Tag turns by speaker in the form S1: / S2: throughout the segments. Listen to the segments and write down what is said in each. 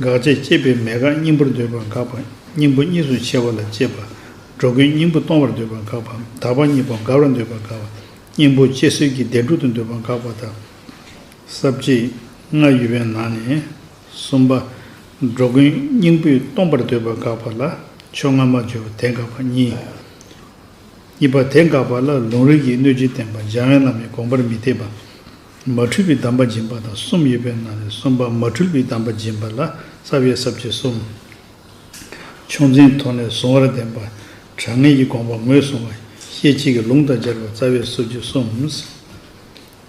S1: འགག་བཅས་བསྐྱེད་པའི་མེད་དགག་སྙིང་པོར་འདོད་པ་འགག་པ་སྙིང་པོ་གཉིས་སུ་ཕྱེ་བ་ལ་དཔྱད་པ། འགྲོ་ཀུན་སྙིང་པོ་སྟོང་བར་འདོད་པ་འགག་པ་འདག་པ་གཉིས་པོ་འགག་རུ་འདོད་པ་འགག་པ། སྙིང་པོ་སྐྱེ་སེལ་གྱི་བདེ་འགྲོ་དུ་འདོད་པ་འགག་པ་དང། ས་བཅད། སྔགས་ཡོད་པའི་ནང་ནས། གསུམ་པ། འགྲོ་ཀུན་སྙིང་པོས་སྟོང་པར་འདོད་པ་འགག་པ་ལ་ཕྱོགས་སྔ་མ་སྦྱོར་བ་དེ་འགག་པ་གཉིས། གཉིས་པ་དེ་འགག་པ་ལ་ལུང་རིགས་ཀྱིས་གནོད་ཅིང་བསྟན་པ་སྦྱང་བའི་ལམ་ནས་དགོངས་པར་མི་འཐད་པ། མ་འཁྲུལ་པའི་གདམས་པ་སྦྱིན་པ་དང་གསུམ་ཡོད་པའི་ནང་ནས་གསུམ་པ་མ་འཁྲུལ་པའི་གདམས་པ་སྦྱིན་པ་ལ་རྩ་བའི་ཟབ་ཆོས་གསུམ། ཕྱོགས་འཛིན་ཐོག་ནས་གཟུང་བར་ལྡན་པ། དྲང་ངེས་ཀྱི་དགོངས་པ་ངོས་བཟུང་བ། ཤེས་བྱེད་ཀྱི་ལུང་དང་སྦྱར་བའི་རྩ་བའི་སྲོལ་རྒྱུན་གསུམ།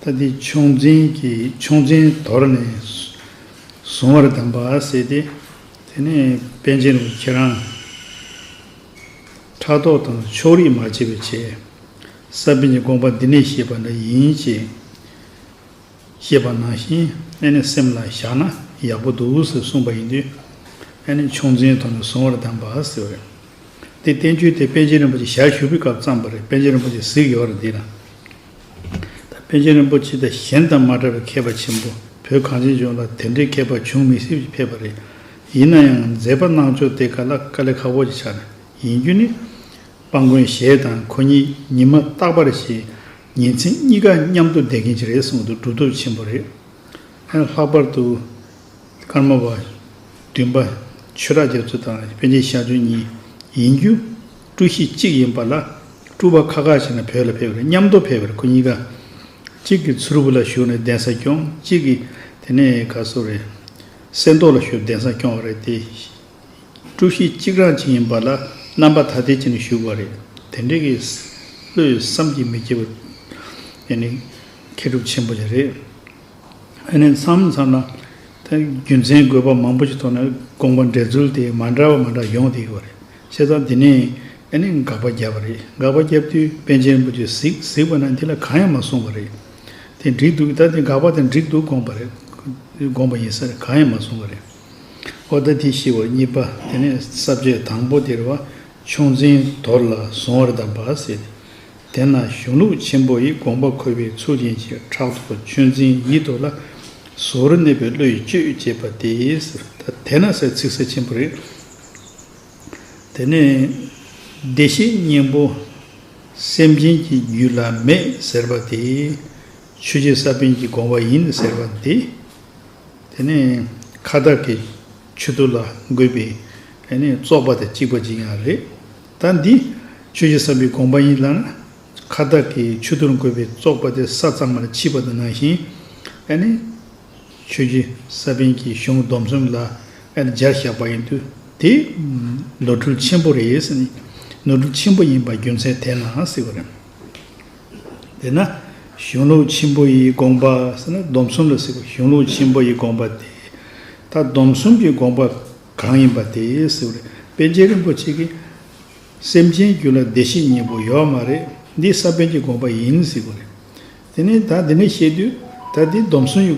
S1: ལྟ་དེ་ཕྱོགས་འཛིན་གྱི་ཕྱོགས་འཛིན་དོར་ནས་གཟུང་བར་ལྡན་པ་བསྲེས་ཏེ། དེ་ནས་པཎ་ཆེན་རིན་པོ་ཆེ་རང། ཕྲག་དོག་དང་ཕྱོགས་རིས་མ་བྱས་པའི་ཆེད། ས་པཎ་གྱི་དགོངས་པ་འདི་ནས་ཤེས་པ་འདྲ་ཡིན་ཅེས་བཤད་པ་ནང་བཞིན་ཨ་ནེ་སེམས་ལ་བཞག་ན་ཡག་པོ་འདུག་ཟེར་གསུངས་པ་ཡིན་དུས། ཨ་ནེ་ཆུང་འཛིན་ཐོག་ནས་བཟུང་བར་གདམས་པ་ཟེར་བ་རེད། དེ་བསྟན་བཅོས་དེ་པཎ་ཆེན་རིན་པོ་ཆེ་ཞལ་བཞུགས་ཕུལ་སྐབས་བརྩམས་པ་རེད་པཎ་ཆེན་རིན་པོ་ཆེ་གཟིགས་ཡོད་རེད་འདི་ན། ད་པཎ་ཆེན་རིན་པོ་ཆེ་དང་གཞན་དང་མ་འདྲ་བའི་མཁས་པ་ཆེན་པོ་བོད་གངས་ཅན་ལྗོངས་ལ་དེ་འདྲའི་མཁས་པ་བྱུང་མི་སྲིད་ཅེས་ཕེབས་པ་རེད། ཡིན་ན་ཡང་མཛད་པ་གནང་ཕྱོགས་དེ་ག་ལ་དཀའ་ལས་ཁག་པོ་ཅིག་ཆགས་ཡིན་རྒྱུ་ནི། སྤང་དགོན་ཞེས་དང་ཁོ་གཉིས་ཉི་མ་རྟག་པར་ཞེས་ཉིན་མཚན་གཉིས་ཀ་མཉམ་དུ་བསྡད་ཀྱིན་ཅི་རེད་གསུངས་འདུག་གྲུབ་ཐོབ་ཆེན་པོ་རེད། ལྷག་པར་དུ། ཀརྨ་པ། བདུན་པ། ཆོས་གྲགས་རྒྱ་མཚོ་དང་པན་ཆེན་ཤར་ཆོས་གཉིས་ཡིན། རྒྱུ་སྤྲུལ་གཞི་གཅིག་ཡིན་པ་ལ་སྤྲུལ་བ་ཁག་ཁག་ཞིག་ན་བོད་ལ་ཕེབས་རེད་མཉམ་དུ་ཕེབས་རེད་ཁོ་གཉིས་ཀ། གཅིག་གིས་ཚུར་བུ་ལ་བཞུགས་ནས་གདན་ས་སྐྱོང་གཅིག་གིས་དེ་ནས་ག་སོ་རེད། གསེར་མདོག་ལ་བཞུགས་གདན་ས་སྐྱོང་བ་རེད་དེ། དཀྲུག་ཤིང་གཅིག་རང་བྱིན་ཡིན་པ་ལ་རྣམ་པ་ཐ་དད་ཅིག་ནས་བཞུགས་པ་རེད། དེ་འདྲའི་གི་བློས་བསམ་གྱིས་མི་ཁྱབ་པ་དེ་ནི་མཁས་གྲུབ་ཆེན་པོ་ལས་རེད། ཨ་ནི་མཚམས་མཚམས་ལ་རྒྱུ་མཚན་དགོས་པ་མང་པོ་ཞིག་ཐོག་ནས་དགོངས་པ་འགྲེལ་ཚུལ་དེ་མ་འདྲ་བ་མ་འདྲ་ཡོང་བསྡད་ཡོད་པ་རེད། བཤད་སྟངས་དེ་ནས་ཨ་ནི་དགག་པ་བརྒྱབ་པ་རེད། དགག་པ་བརྒྱབ་དུས་པན་ཆེན་རིན་པོ་ཆེས་གཟིགས་གཟིགས་པ་ན་འདི་ལ་གང་ཡང་མ་གསུངས་པ་རེད། དེ་འགྲིག་འདུག་ད་དེ་དགག་པ་དེ་འགྲིག་འདུག་དགོངས་པ་རེད་དགོངས་པ་ཡིན་ས་རེད་གང་ཡང་མ་གསུངས་པ་རེད། ཨོ་ད་དྷི་ཤི་བ་གཉིས་པ་དེ་ནས་ས་བཅད་དང་པོ་དེར་བ་ཕྱུགས་འཛིན་དོར་ལ་བཟུང་བར་གདམས་པ་ཟེར། དེ་ན་གཞུང་ལུགས་ཆེན་པོ་ཡི་དགོངས་པ་འཁོད་པའི་ཚུལ་ཅན་གྱི་ཕྲག་དོག་ཆོས་འཛིན་ཡིད་དོར་ལ། གཟུགས་རུ་གནས་པའི་བློ་ཡིས་སྤྱོད་ཅེས་པ་དེ་ཟེར། དེ་ན་སའི་ཚིག་གསལ་ཆེན་པོ་རེད། དེ་ནས་བདེ་གཤེགས་སྙིང་པོ་སེམས་ཅན་གྱི་རྒྱུད་ལ་མེད་ཟེར་བ་དེ། ཆོས་རྗེ་ས་པཎ་གྱི་དགོངས་པ་ཡིན་ཟེར་བ་འདི། དེ་ནས་ཁ་བདག་གི་ཆོས་དུ་ལ་འགོད་པའི་བཙོག་པ་དང་གཅིག་པ་གཅིག་ཡང་རེད། ད་འདི་ཆོས་ཀྱི་བསམ་པའི་དགོངས་པ་ཡིན་ལ། ཁ་བདག་གི་ཆོས་དུར་འགོད་པའི་བཙོག་པ་དེ་ས་གཙང་མར་མཆིས་པ་དང་ནང་བཞིན། ཆོས་ཀྱི་ས་པཎ་གྱི་གཞུང་སྡོམ་གསུམ་ལ་སྦྱར་བཞག་པ་ཡིན་དུས་དེ་ནོར་འཁྲུལ་ཆེན་པོ་རེད། ནོར་འཁྲུལ་ཆེན་པོ་ཡིན་པ་རྒྱུ་མཚན་དེས་ན་སྲིད་པ་རེད། དེས་ན་གཞུང་ལུགས་ཆེན་པོ་ཡི་དགོངས་པ་ཟེར་ན་སྡོམ་གསུམ་ལ་ཟེར་བ་གཞུང་ལུགས་ཆེན་པོ་ཡི་དགོངས་པ་དེ། ད་སྡོམ་གསུམ་གྱི་དགོངས་པ་གང་ཡིན་པ་དེ་ཟེར་བ་རེད། པཎ་ཆེན་རིན་པོ་ཆེ་གིས། སེམས་ཅན་རྒྱུད་ལ་བདེ་གཤེགས་གཉིས་པོ་ཡོད་མ་རེད། འདི་ས་པཎ་གྱི་དགོངས་པ་ཡིན་ཟེར་བ་རེད། དེ་ནས་ད་འདི་ནས་བཤད་དུས། ད་འདི་སྡོམ་གསུམ་གྱི་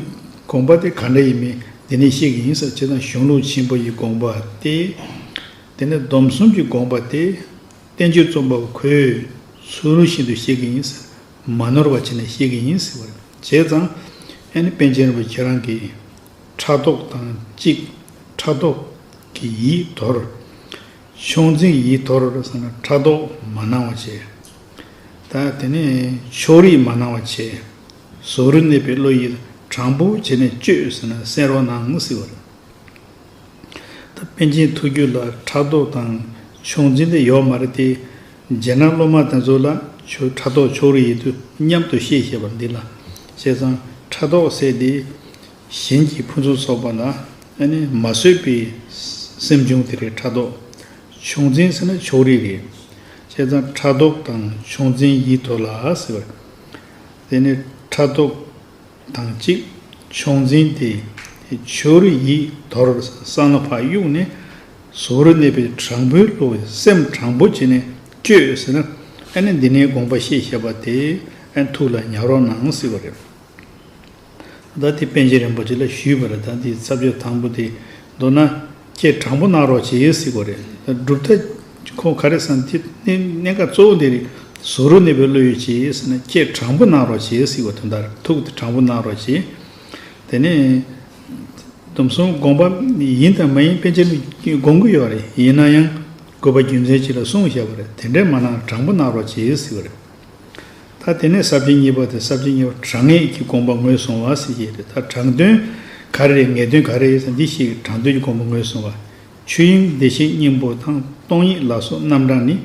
S1: དགོངས་པ་དེ་ག་འདྲ་ཡིན་མིན་འདི་ནས་བཤད་ཀྱི་ཡིན་ཟེར་བ་ཇི་ལྟར་གཞུང་ལུགས་ཆེན་པོ་ཡི་དགོངས་པ་དེ། དེ་ནས་སྡོམ་གསུམ་གྱི་དགོངས་པ་དེ། བསྟན་བཅོས་རྩོམ་པ་པོ་ཁོས་ཚུར་རོལ་བཞིན་དུ་བཤད་གི་ཡིན། མ་ནོར་བ་བྱས་ནས་བཤད་གི་ཡིན་ཟེར་བར་བྱས་ཙང། ཨ་ནི་པཎ་ཆེན་རིན་པོ་ཁྱེད་རང་གིས་ཕྲག་དོག་དང་གཅིག་ཕྲག་དོག་གིས་ཡིད་དོར། ཕྱོགས་འཛིན་གྱིས་ཡིད་དོར་བསམ་ན་ཕྲག་དོག་མ་གནང་བ་བྱས། ད་དེ་ནས་ཕྱོགས་རིས་མ་གནང་བ་བྱས། ཟོག་རུ་གནས་པའི་བློ་ཡིད་དྲང་པོ་བྱས་ནས་བཅོས་ཟེར་ན་གསན་རོགས་གནང་ཟེར་བར། ད་པན་ཆེན་ཐུགས་རྒྱུད་ལ་ཕྲག་དོག་དང་ཕྱོགས་འཛིན་དེ་ཡོག་མ་རེད་དེ། རྗེས་གནང་སློབ་མ་དེ་ཚོ་ལ་ཕྲག་དོག་ཕྱོགས་རིས་ཡོད་དུས་མཉམ་དུ་བཤད་ཤེས་པ་འདི་ལ་བཤད་ཙང་ཕྲག་དོག་བསལ་ཏེ། གཞན་གྱི་ཕུན་ཚོགས་ཚོགས་པ་ལ་མ་བཟོད་པའི་སེམས་བྱུང་དེ་རེད་ཕྲག་དོག་ཕྱོགས་འཛིན་ཟེར་ན་ཕྱོགས་རིས་རེད། བཤད་ཙང་ཕྲག་དོག་དང་ཕྱོགས་འཛིན་ཡིད་དོ་ལ་ཟེར་བ་རེད། དེ་ནས་ཕྲག་དོག། དང་གཅིག། ཕྱོགས་འཛིན་ཏེ། ཆོས་རིག་ཡིད་དོར་གསང་སྔགས་འཕགས་དབྱུང་ནི། གཟུགས་རོ་གནས་པའི་དྲང་པོའི་བློ་བས་སེམས་དྲང་པོ་བྱས་ནས་སྤྱོད་ཟེར་ན། ཨ་ནི་འདི་ནས་དགོངས་པ་ཤེས་ཞེས་པ་དེ་ཨན་ཐུགས་ལ་ཉར་རོགས་གནང་ཟེར་བ་རེད། བདག་དེ་པན་ཆེན་རིན་པོ་ཆེ་ལ་ཞུས་པར་བདག་འདིའི་ཚབ་བྱ་དང་པོ་དེ་མདོར་ན། ཁྱེད་དྲང་པོ་གནང་རོགས་བྱེད་ཡོད་སྲིད་གོ་རེད་སྒྲུབ་ཐ་ཁོང་ག་རེད་བསམ་ཁྱེད་གནད་འགག་གཙོ་བོ་འདི་རེད་བཟོ་རུ་གནས་པའི་བློ་ཡོད་བྱེད་ཡོད་སྲིད་ན་ཁྱེད་དྲང་པོ་གནང་རོགས་བྱེད་ཡོད་སྲིད་གོ་དོན་དར་ཐུག་དེ་དྲང་པོ་གནང་རོགས་བྱེད་དེ་ནས་སྡོམ་གསུམ་དགོངས་པ་ཡིན་དང་མ་ཡིན་དཔེ་ཆ་དགོངས་ཀྱི་ཡོད་རེད་ཡིན་ན་ཡང་དགོས་པ་རྒྱུ་མཚན་ཅིག་ལ་གསུངས་བྱས་པ་རེད་དེ་འདྲས་མ་གནང་དྲང་པོ་གནང་རོགས་བྱེད་ཡོད་སྲིད་གོ་རེད། ད་དེ་ནས་གསར་བརྗེ་གཉིས་པ་དེ་གསར་བརྗེ་གཉིས་པ་དྲང་ངེས་ཀྱི་དགོངས་པ་ངོས་བཟུང་བ་ཟེར་གྱི་རེད་ད་དྲང་དོན་ག་རེ་རེད་ངེས་དོན་ག་རེ་ཡོད་ད་འདི་ཞིག་དྲང་དོན་གྱི་དགོངས་པ་ངོས་བཟུང་བ། ཆོས་དབྱིངས་བདེ་གཤེགས་སྙིང་པོ་དང་སྟོང་ཉིད་ལ་སོགས་རྣམ་གྲངས་ནི།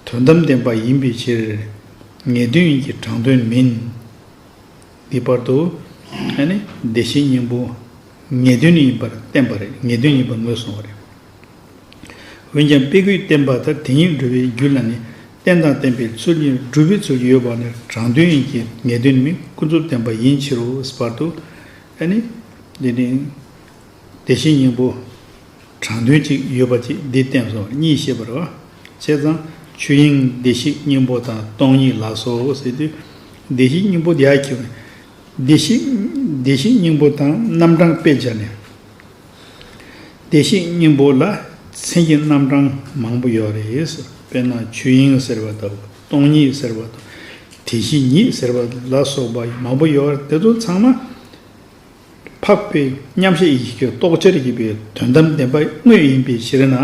S1: དོན་དམ་བདེན་པ་ཡིན་པའི་ཕྱིར། ངེས་དོན་ཡིན་གྱི་དྲང་དོན་མིན། འདི་བར་དུ། བདེ་གཤེགས་སྙིང་པོ། ངེས་དོན་ནི་ཡིན་པར་བསྟན་པ་རེད་ངེས་དོན་ཡིན་པར་ངོས་བཟུང་བ་རེད། འོན་ཀྱང་དཔེ་དགུའི་བསྟན་པ་དང་དེ་ཉིད་འགྲུབ་པའི་རྒྱུད་ལ་ནི་རྟེན་དང་བརྟེན་པའི་ཚུལ་གཉིས་སྒྲུབ་པའི་ཚུལ་ཡོད་པ་ནི་རང་དོན་ཡིན་གྱི་ངེས་དོན་མིན་ཀུན་རྫོབ་བསྟན་པ་ཡིན་ཕྱིར་རོ་བར་དུ་ཨ་ནི། དེ་ནི། དེ་བཞིན་སྙིང་པོ། དྲང་དོན་གཅིག་ཡོད་པ་ཅིག་འདི་བསྟན་སོ་གཉིས་ཤེས་པར་བྱ། བྱས་ཙང་ཆོས་དབྱིངས་བདེ་གཤེགས་སྙིང་པོ་དང་སྟོང་ཉིད་ལགས་སོ་ཟེར་དུས། བདེ་གཤེགས་སྙིང་པོ་དེ་ཡག་གི། བདེ་གཤེགས་སྙིང་པོ་དང་རྣམ་གྲངས་དཔེ་སྦྱར་ནས། བདེ་གཤེགས་སྙིང་པོ་ལ་མཚན་གྱི་རྣམ་གྲངས་མང་པོ་ཡོད་རེད། དཔེར་ན་ཆོས་དབྱིངས་ཟེར་བ་དང་སྟོང་ཉིད་ཟེར་བ་དང་དེ་བཞིན་ཉིད་ཟེར་བ་ལ་སོགས་པ་མང་པོ་ཡོད་རེད་དེ་ཚོ་ཚང་མ་འཕགས་པའི་མཉམ་གཞག་ཡི་གེ་རྟོགས་འཆར་བགྱིས་པའི་དོན་དམ་བདེན་པ་དངོས་ཡིན་པའི་ཕྱིར་ན་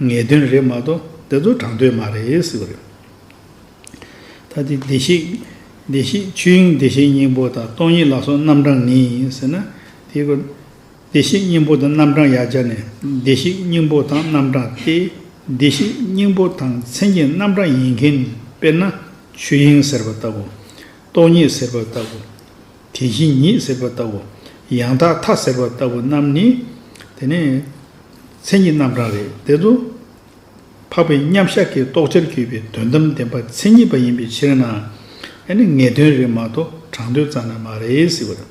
S1: ངེས་དོན་རེད་མ་གཏོགས་དེ་ཚོ་དྲང་དོན་མ་རེད། ད་དེ་བདེ་གཤེགས་ཆོས་དབྱིངས་བདེ་གཤེགས་སྙིང་པོ་དང་སྟོང་ཉིད་ལ་སོགས་རྣམ་གྲངས་ངེས་ཡིན་ཟེར་ན་དེ་བདེ་གཤེགས་སྙིང་པོ་དང་རྣམ་གྲངས་ཡར་སྦྱར་ནས་བདེ་གཤེགས་སྙིང་པོ་དང་རྣམ་གྲངས་ཏེ། བདེ་གཤེགས་སྙིང་པོ་དང་མཚན་གྱི་རྣམ་གྲངས་ཡིན་མཁན་ནི་དཔེར་ན་ཆོས་དབྱིངས་ཟེར་བ་ལྟ་བུ། སྟོང་ཉིད་ཟེར་བ་ལྟ་བུ། དེ་བཞིན་ཉིད་ཟེར་བ་ལྟ་བུ། ཡང་དག་མཐའ་ཟེར་བ་ལྟ་བུ་རྣམས་ནི། དེ་ནི་མཚན་གྱི་རྣམ་གྲངས་རེད། དེ་ཚོ་འཕགས་པའི་མཉམ་གཞག་གི་རྟོགས་བྱར་གྱུར་པའི་དོན་དམ་བདེན་པ་མཚན་ཉིད་པ་ཡིན་པའི་ཕྱིར་ན། ཡང་ནི་ངེས་དོན་རེད་མ་གཏོགས་དྲང་དོན་རྩ་ན་མ་རེད་ཟེར་བ་རེད།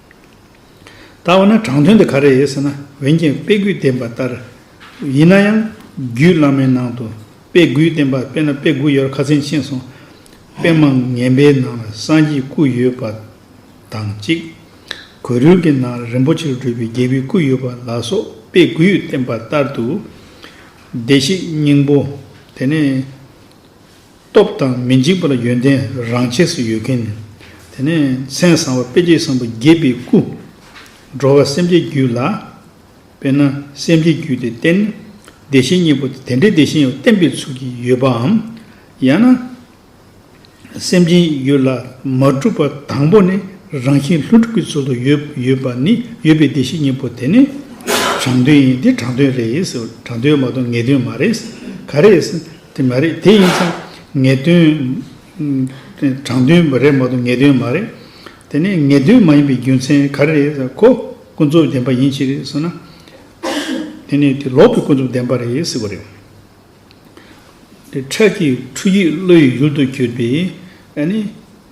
S1: ད་འོ་ན་དྲང་དོན་དེ་ག་རེ་ཡིན་ཟེར་ན་འོན་ཀྱང་དཔེ་དགུའི་བསྟན་པ་ལྟར་ཡིན་ན་ཡང་རྒྱུད་བླ་མའི་ནང་དུ་དཔེ་དགུའི་བསྟན་པ་དཔེ་ན་དཔེ་དགུ་ཡོད་ར་ཁ་ཚན་ཕྱིན་སོང། དཔེ་མང་ངན་པའི་ནང་ལ་སངས་རྒྱས་སྐུ་ཡོད་པ་དང་གཅིག། གོས་རུལ་གྱི་ནང་ལ་རིན་པོ་ཆེར་གྲུབ་པའི་རྒྱལ་པོའི་སྐུ་ཡོད་པ་ལ་སོགས་དཔེ་དགུའི་བསྟན་པ་ལྟར་དུ། བདེ་གཤེགས་སྙིང་པོ་དེ་ནས། སྟོབས་དང་མི་འཇིགས་པ་ལ་ཡོན་ཏན་རང་ཆས་སུ་ཡོད་མཁན་ནི། དེ་ནས་མཚན་བཟང་བ་དཔེ་བྱད་བཟང་པོ་དགྱེས་པའི་སྐུ། འགྲོ་བ་སེམས་བསྐྱེད་རྒྱུད་ལ། དཔེར་ན་སེམས་བསྐྱེད་རྒྱུད་དེ་བསྟན། བདེ་གཤེགས་གཉིས་པོ་དེ་འདྲའི་བདེ་གཤེགས་བསྟན་པའི་ཚུལ་གྱིས་ཡོད་པའམ། ཡང་ན། སེམས་ཅན་ཡུལ་ལ་མ་གྲུབ་པ་དང་པོ་ནས་རང་བཞིན་ལྷུན་གྲུབ་ཀྱི་ཚུལ་དུ་ཡོད་པ་ནི་ཡོད་པའི་བདེ་གཤེགས་གཉིས་པོ་དེ་ནི། དྲང་དོན་ཡིན་དེ་དྲང་དོན་རེད། དྲང་དོན་མ་གཏོགས་ངེས་དོན་མ་རེད། ག་རེ། དེ་མ་རེད་དེ་ཡིན་ཙང་ངེས་དོན། དྲང་དོན་རེད་མ་གཏོགས་ངེས་དོན་མ་རེད། དེ་ནས་ངེས་དོན་མ་ཡིན་པའི་རྒྱུ་མཚན་ག་རེ་རེད་ཟེར་ཁོ་ཀུན་རྫོབ་བདེན་པ་ཡིན་ཅི་རེད་ཟེར་ན། དེ་ནས་དེ་ལོག་པའི་ཀུན་རྫོབ་བདེན་པ་རེད་ཟེར་བ་རེད། དེ་ཕྲད་ཀྱི་འཁྲུལ་ཡིག་བློ་ཡི་ཡུལ་དུ་གྱུར་པས་ནི།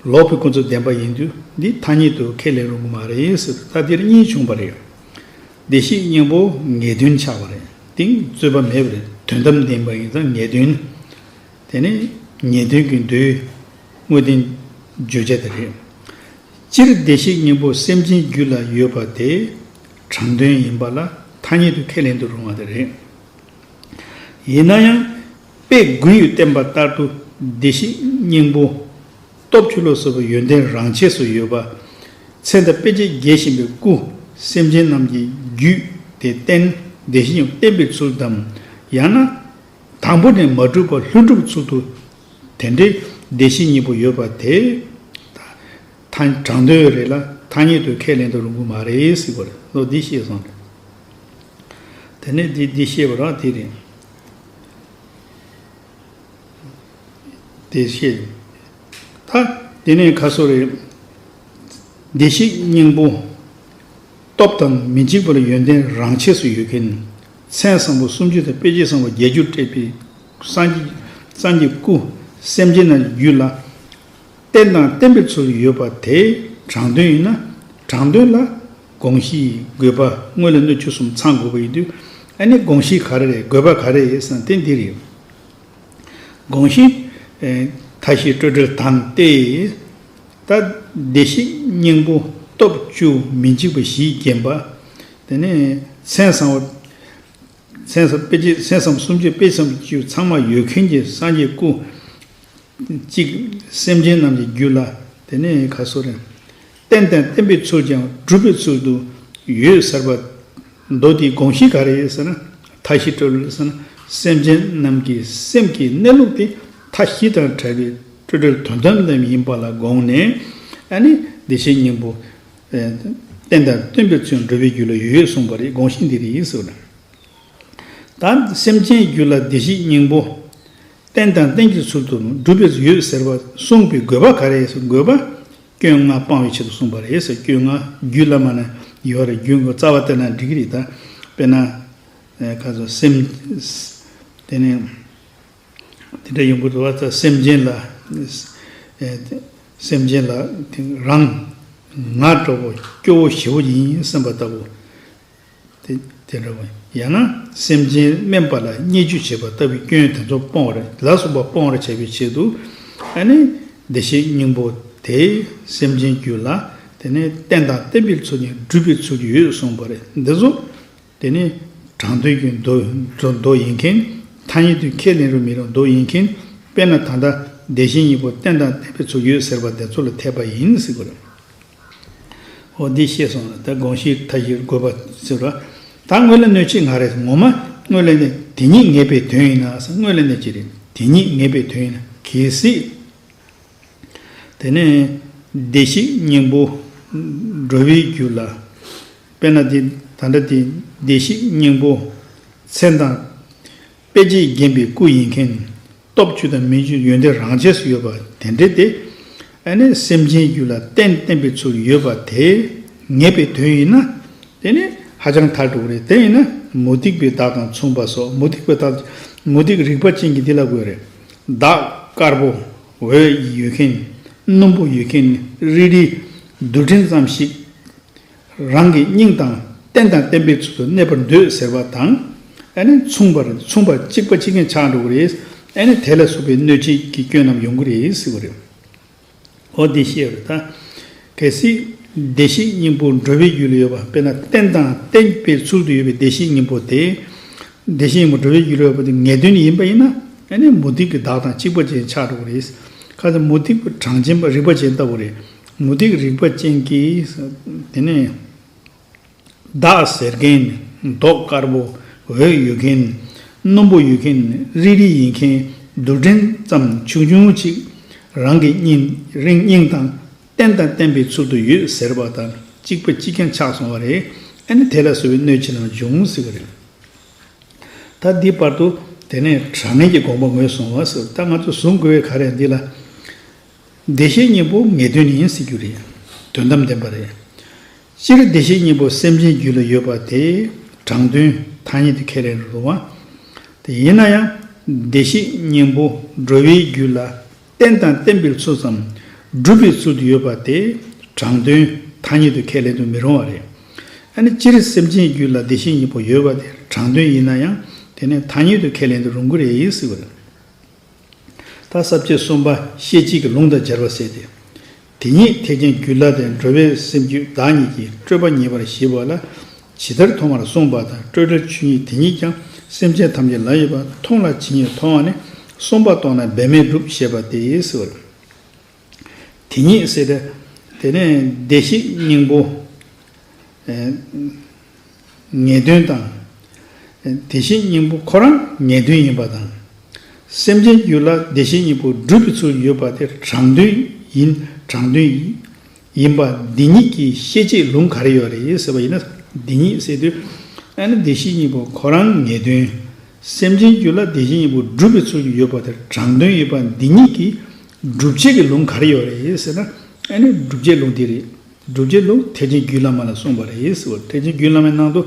S1: ལོག་པའི་ཀུན་རྫོབ་བདེན་པ་ཡིན་དུས་འདི་ཐ་སྙད་དུ་ཁས་ལེན་རུང་གི་མ་རེད་ཟེར་ད་འདིར་གཉིས་བྱུང་བ་རེད། བདེ་གཤེགས་སྙིང་པོ་ངེས་དོན་འཆར་བ་རེད་དེང་རྩོད་པ་མེད་པ་རེད་དོན་དམ་བདེན་པ་ཡིན་ཙང་ངེས་དོན་དེ་ནི་ངེས་དོན་གྱི་མདོའི་དངོས་བསྟན་བརྗོད་བྱ་དེ་རེད། སྤྱིར་བདེ་གཤེགས་སྙིང་པོ་སེམས་ཅན་རྒྱུད་ལ་ཡོད་པ་དེ་དྲང་དོན་ཡིན་པ་ལ་ཐ་སྙད་དུ་ཁས་ལེན་དུ་རུང་བ་དེ་རེད། ཡིན་ན་ཡང་དཔེ་དགུའི་བསྟན་པ་ལྟར་དུ་བདེ་གཤེགས་སྙིང་པོ། སྟོབས་ཆུ་ལོག་སྲུབ་པའི་ཡོན་ཏན་རང་ཆས་སུ་ཡོད་པ། ཚེ་མདའ་དཔེ་བྱད་རྒྱས་བཞིན་པའི་སྐུ། སེམས་ཅན་རྣམས་ཀྱི་རྒྱུད་དེ་བསྟན། བདེ་གཤེགས་ཡང་བསྟན་པའི་ཚུལ་དམ། ཡང་ན། དང་པོ་ནས་མ་གྲུབ་པར་ལྷུན་གྲུབ་ཚུལ་དུ། དེ་འདྲའི་བདེ་གཤེགས་གཉིས་པོ་ཡོད་པ་དེ། དྲང་དོན་རེད་ལ་ཐ་སྙད་དུ་ཁས་ལེན་དུ་རུང་གི་མ་རེད་སྲིད་པར་བློ་འདིས་ཤེས་སོང། དེ་ནས་འདི་ཤེས་པ་རང་དེ་རེད། བདེ་གཤེགས། ད་དེ་ནས་ཁ་གསོ་རེད། བདེ་གཤེགས་སྙིང་པོ། སྟོབས་དང་མི་འཇིགས་པ་ལ་ཡོན་ཏན་རང་ཆས་སུ་ཡོད་མཁན། མཚན་བཟང་པོ་སུམ་ཅུ་དང་དཔེ་བྱད་བཟང་པོ་བརྒྱད་ཅུར་སྤྲས་པའི་སངས་ཀྱི་སྐུ། སེམས་ཅན་རྣམས་ཀྱི་རྒྱུད་ལ། བསྟན་དང་བསྟན་པའི་ཚུལ་ཡོད་པ་དེ་དྲང་དོན་ཡིན་ན། དྲང་དོན་ལ། དགོངས་གཞི་ཡི་དགོས་པ་དངོས་ལས་སྣོད་བཅུད་གསུམ་ཚང་དགོས་པ་ཡིན་དུས། ཨ་ནི་དགོངས་གཞི་ག་རེ་རེད་དགོས་པ་ག་རེ་ཡོད་བསམ་དེ་འདི་རེད། དགོངས་གཞི། མཐའ་བཞི་སྤྲོས་བྲལ་དང་སྟེ། ད། བདེ་གཤེགས་སྙིང་པོ་སྟོབས་བཅུ་མི་འཇིགས་པ་བཞིས་བརྒྱན་པ། དེ་ནས། མཚན་བཟང་བོ། མཚན་བཟང་དཔེ་བྱད་མཚན་བཟང་བོ་སུམ་ཅུ་དཔེ་བྱམས་བཅུ་ཚང་མ་ཡོད་མཁན་གྱི་སངས་རྒྱས་སྐུ། གཅིག། སེམས་ཅན་རྣམས་ཀྱི་རྒྱུད་ལ། དེ་ནས་ག་སོ་རེད། རྟེན་དང་བརྟེན་པའི་ཚུལ་ཀྱང་སྒྲུབ་པའི་ཚུལ་དུ་ཡོད་ཟེར་བ། མདོ་དེའི་དགོངས་གཞི་ག་རེ་ཡོད་ཟེར་ན། མཐའ་བཞི་སྤྲོ་བསླུ་ཟེར་ན་སེམས་ཅན་རྣམས་ཀྱི་སེམས་ཀྱི་གནས་ལུགས་དེ་མཐའ་བཞི་དང་བྲལ་བའི་སྤྲོ་བསྒྲོད་དོན་དམ་རྣམས་ཡིན་པ་ལ་དགོངས་ནས། ཨ་ནི་བདེ་གཤེགས་སྙིང་པོ། རྟེན་དང་བརྟེན་པའི་ཚུལ་འགྲུབ་པའི་རྒྱུ་ལ་ཡོད་གསུངས་པ་རེད་དགོངས་གཞི་འདི་རེད་ཟེར་བ། ད་སེམས་ཅན་རྒྱུད་ལ་བདེ་གཤེགས་སྙིང་པོ། རྟེན་དང་བརྟེན་གྱི་ཚུལ་དུ་འགྲུབ་པའི་ཡོད་ཟེར་བ་གསུངས་པའི་དགོས་པ་ག་རེ་ཡོད་ཟེར་ན། དགོས་པ། སྐྱོན་ལྔ་སྤང་བའི་ཆེད་དུ་གསུངས་པ་རེད་ཟེར་སྐྱོན་ལྔ་རྒྱུད་བླ་མ་ན་ཡོད་རེད་རྒྱུད་མགོ་རྩ་བ་བསྟན་ན་འགྲིག་གི་རེད་ད། དཔེར་ན། ཁ་ཟུར་སེམས། དེ་ནས། དེ་འདྲ་ཡོང་གི་འདུག་བ་ད་སེམས་ཅན་ལ། སེམས་ཅན་ལ་རང། ང་གྲོགས་པོ་སྐྱོ་བོ་ཞི་བོ་ཡིན་སེམས་པ་ལྟ་བུ། དེ་འདྲ་བ། ཡང་ན་སེམས་ཅན་དམན་པ་ལ་བརྙས་བཅོས་བྱེད་པ་ལྟ་བུའི་སྐྱོན་དེ་ཚོ་སྤོང་བར་ལ་སོགས་པ་སྤོང་བར་བྱ་བའི་ཆེད་དུ། ཨ་ནི། བདེ་གཤེགས་སྙིང་པོ་དེས་སེམས་ཅན་རྒྱུད་ལ། དེ་ནི་རྟེན་དང་བརྟེན་པའི་ཚུལ་ནི་སྒྲུབ་པའི་ཚུལ་ཡོད་གསུངས་པ་རེད་འདི་ཚོ། དེ་ནི། དྲང་དོན་གྱི་མདོ་ཡིན་མཁན། ཐ་སྙད་དུ་ཁས་ལེན་རུང་མི་རུང་མདོ་ཡིན་མཁན། དཔེར་ན་ད་ལྟ་བདེ་གཤེགས་སྙིང་པོ་རྟེན་དང་བརྟེན་པའི་ཚུལ་ཡོད་ཟེར་བ་དེ་ཚོ་ལ་འཐད་པ་ཡིན་སྲིད་དགོས། ཨོ་འདི་ཤེས་སོང་ལ་ད་དགོངས་གཞི་མཐའ་བཞིར་དགོས་པ་ཟེར་བ། ད་དངོས་ལས་གནོད་བྱེད་ང་རེད་ངོ་མ་དངོས་ལས་གནོད་དེ་ཉིད་ངེས་པའི་དོན་ཡིན་ན་ས་དངོས་ལས་གནོད་བྱེད་རེད་དེ་ཉིད་ངེས་པའི་དོན་ཡིན་ན་གལ་སྲིད། དེ་ནས་བདེ་གཤེགས་སྙིང་པོ། འགྲོ་བའི་རྒྱུད་ལ། དཔེར་ན་དེ་ད་འདྲ་སྟེ་བདེ་གཤེགས་སྙིང་པོ། མཚན་དང། དཔེ་བྱད་བརྒྱན་པའི་སྐུ་ཡིན་མཁན། སྟོབས་བཅུ་དང་མི་བཅུ་ཡོན་ཏན་རང་ཆས་སུ་ཡོད་པ་དེ་འདྲས་ཏེ། ཨ་ནི་སེམས་ཅན་རྒྱུད་ལ་རྟེན་བརྟེན་པའི་ཚུལ་ཡོད་པ་དེ་ངེས་པའི་དོན་ཡིན་ན། དེ་ནི་ཧ་ཅང་མཐར་གྲུབ་པ་རེད་དེ་ཡིན་ན་མུ་སྟེགས་པའི་བདག་དང་མཚུངས་པ་སོགས་མུ་སྟེགས་པའི་བདག་མུ་སྟེགས་རིག་པ་ཅན་གྱི་འདི་ལ་དགོས་རེད། བདག་དཀར་པོ། འོད་ཡོད་མཁན། སྣུམ་པོ་ཡོད་མཁན་ནི་རིལ་རིལ། རྡུལ་ཕྲན་ཙམ་ཞིག། རང་གི་སྙིང་དང་རྟེན་དང་བརྟེན་པའི་ཚུལ་དུ་གནས་པར་འདོད་ཟེར་བ་དང། ཨ་ནི་མཚུངས་པར་མཚུངས་པར་གཅིག་པ་གཅིག་གིན་ཆགས་འགྲོ་གི་རེད། ཨ་ནི་དེ་ལ་སོགས་པའི་གནོད་བྱེད་ཀྱི་སྐྱོན་རྣམས་ཡོང་གི་རེད་ཟེར་བ་རེད། འོ་འདི་ཤེས་རོགས་དང། གལ་སྲིད། བདེ་གཤེགས་སྙིང་པོ་འགྲོ་བའི་རྒྱུད་ལ་ཡོད་པ་དཔེར་ན་རྟེན་དང་བརྟེན་པའི་ཚུལ་དུ་ཡོད་པའི་བདེ་གཤེགས་སྙིང་པོ་དེ། བདེ་གཤེགས་སྙིང་པོ་འགྲོ་བའི་རྒྱུད་ལ་ཡོད་པ་དེ་ངེས་དོན་ཡིན་པ་ཡིན་ན། ཨ་ནི་མུ་སྟེགས་ཀྱི་བདག་དང་གཅིག་པ་ཅན་ཆགས་འགྲོ་གི་རེད། ཁ་ཅིག་མུ་སྟེགས་པའི་གྲངས་ཅན་པ་རིག་པ་ཅན་ལྟ་བུ་རེད། མུ་སྟེགས་རིག་པ་ཅན་གྱིས། དེ་ནས། བདག་ཟེར་མཁན་ནི་མདོག་དཀར་པོ། འོད་ཡོད་མཁན་ནི་སྣུམ་པོ་ཡོད་མཁན་ནི་རིལ་རིལ་ཡིན་མཁན་རྡུལ་ཕྲན་ཙམ་ཆུང་ཆུང་ཅིག་རང་གི་སྙིང་རིང་སྙིང་དང་རྟེན་དང་བརྟེན་པའི་ཚུལ་དུ་ཡོད་ཟེར་བ་དང་གཅིག་པ་གཅིག་ཀྱང་ཆགས་སོང་བ་རེད་ཨེ་ནི་དེ་ལ་བཟོ་བའི་སྣོད་ཕྱི་ནང་འབྱུང་ཟེར་བ་རེད། ད་འདིའི་བར་དུ་དེ་ནས་དྲང་ངེས་ཀྱི་དགོངས་པ་ངོས་བཟུང་བ་སོ་ད་ང་ཚོ་བཟུང་དགོས་བའི་ག་རེ་འདི་ལ། བདེ་གཤེགས་སྙིང་པོ་ངེས་དོན་ཡིན་སྲིད་རྒྱུ་རེད། དོན་དམ་བདེན་པ་རེད། སྤྱིར་བདེ་གཤེགས་སྙིང་པོ་སེམས་ཅན་རྒྱུད་ལ་ཡོད་པ་དེ་དྲང་དོན་ཐ་སྙད་དུ་ཁས་ལེན་རུང་བ་དེ་ཡིན་ན་ཡང། བདེ་གཤེགས་སྙིང་པོ་འགྲོ་བའི་རྒྱུད་ལ་རྟེན་དང་བརྟེན་པའི་ཚུལ་ཙམ་སྒྲུབ་པའི་ཚུལ་དུ་ཡོད་པ་དེ་དྲང་དོན་ཐ་སྙད་དུ་ཁས་ལེན་དུ་མི་རུང་བ་རེད། ཨ་ནི་སྤྱིར་སེམས་ཅན་རྒྱུད་ལ་བདེ་གཤེགས་སྙིང་པོ་ཡོད་པ་དེ་དྲང་དོན་ཡིན་ན་ཡང་དེ་ནི་ཐ་སྙད་དུ་ཁས་ལེན་དུ་རུང་གི་རེད་སྲིད་པ་རེད། ཐ་སབ་ཅེས་གསུངས་པ་ཤེས་བྱེད་ཀྱི་ལུང་དང་སྦྱར་བར་ཟད་དེ། དེ་ཉིད་ཐེག་ཆེན་རྒྱུད་བླ་དེ་འགྲོ་བའི་སེམས་རྒྱུད་བདག་ཉིད་ཀྱི་སྤྲོས་པ་ཉེ་བར་ཞི་བ་ལ་ཇི་ལྟར་མཐོང་བར་གསུངས་པ་དང་སྤྲོས་བྲལ་ཆོས་ཉིད་དེ་ཉིད་ཀྱང་སེམས་ཅན་ཐམས་ཅད་ལ་ཡོད་པར་མཐོང་ལ་ཇི་སྙེད་མཐོང་བ་ནི་གསུམ་པ་རྟོགས་ན་འབད་མེད་འགྲུབ་ཞེས་པ་དེའི་ཟེར་བ་རེད། དེ་ཉིད་སྲིད། དེ་ནས་བདེ་གཤེགས་སྙིང་པོ། ངེས་དོན་དང། དེ་བཞིན་སྙིང་པོ་ཁོ་རང་ངེས་དོན་ཡིན་པ་དང། སེམས་ཅན་རྒྱུད་ལ་བདེ་གཤེགས་སྙིང་པོ་སྒྲུབ་པའི་ཚུལ་ཡོད་པ་དེ་དྲང་དོན་ཡིན་དྲང་དོན་ཡིན་པ་འདི་ཉིད་ཀྱི་ཤེས་བྱེད་ལུང་ག་རེ་ཡོད་རེད་ཟེར་བ་ཡིན་ན་འདི་ཉིད་སྲིད། ཨ་ནི་བདེ་གཤེགས་སྙིང་པོ་ཁོ་རང་ངེས་དོན། སེམས་ཅན་རྒྱུད་ལ་བདེ་གཤེགས་སྙིང་པོ་སྒྲུབ་པའི་ཚུལ་ཡོད་པ་དེ་དྲང་དོན་ཡོད་པ་འདི་ཉིད་ཀྱི། སྒྲུབ་བྱེད་ཀྱི་ལུང་ག་རེ་ཡོད་རེད་ཟེར་ན། ཨེ་ནི་སྒྲུབ་བྱེད་ལུང་འདི་རེད། སྒྲུབ་བྱེད་ལུང་ཐེག་ཆེན་རྒྱུད་བླ་མ་ལ་གསུངས་པ་རེད་ཟེར་བ་ཐེག་ཆེན་རྒྱུད་བླ་མའི་ནང་དུ།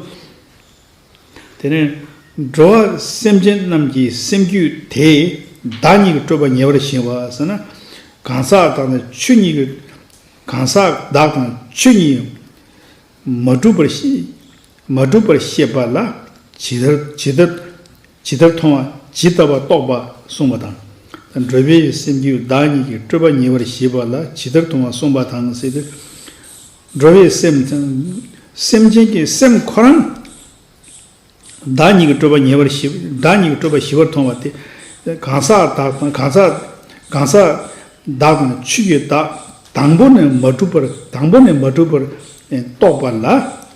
S1: དེ་ནས་འགྲོ་བ་སེམས་ཅན་རྣམས་ཀྱི་སེམས་རྒྱུད་དེས་བདག་ཉིད་ཀྱི་སྤྲོས་པ་ཉེ་བར་བཞེངས་བ་ཟེར་ན། གང་ཟག་བདག་དང་ཆོས་ཉིད་ཀྱི། གང་ཟག་བདག་དང་ཆོས་ཉིད། མ་གྲུབ་པར། མ་གྲུབ་པར་ཤེས་པ་ལ། ཇི་ལྟར། ཇི་ལྟར་མཐོང་བ་ཇི་ལྟ་བར་རྟོགས་པ་གསུངས་པ་དང། འགྲོ་བའི་སེམས་རྒྱུད་བདག་ཉིད་ཀྱི་སྤྲོས་པ་ཉེ་བར་ཞི་བ་ལ་ཇི་ལྟར་མཐོང་བ་གསུངས་པ་དང་སྲིད་དུ། འགྲོ་བའི་སེམས་དང། སེམས་ཅན་གྱི་སེམས་ཁོ་རང་བདག་ཉིད་ཀྱི་སྤྲོས་པ་ཉེ་བར་ཞི་བདག་ཉིད་ཀྱི་སྤྲོས་པ་ཞི་བར་མཐོང་བ་སྟེ། གང་ཟག་བདག་དང་གང་ཟག་གང་ཟག་བདག་དང་ཆོས་ཀྱི་བདག་དང་པོ་ནས་མ་གྲུབ་པར་དང་པོ་ནས་མ་གྲུབ་པར་རྟོགས་པ་ལ་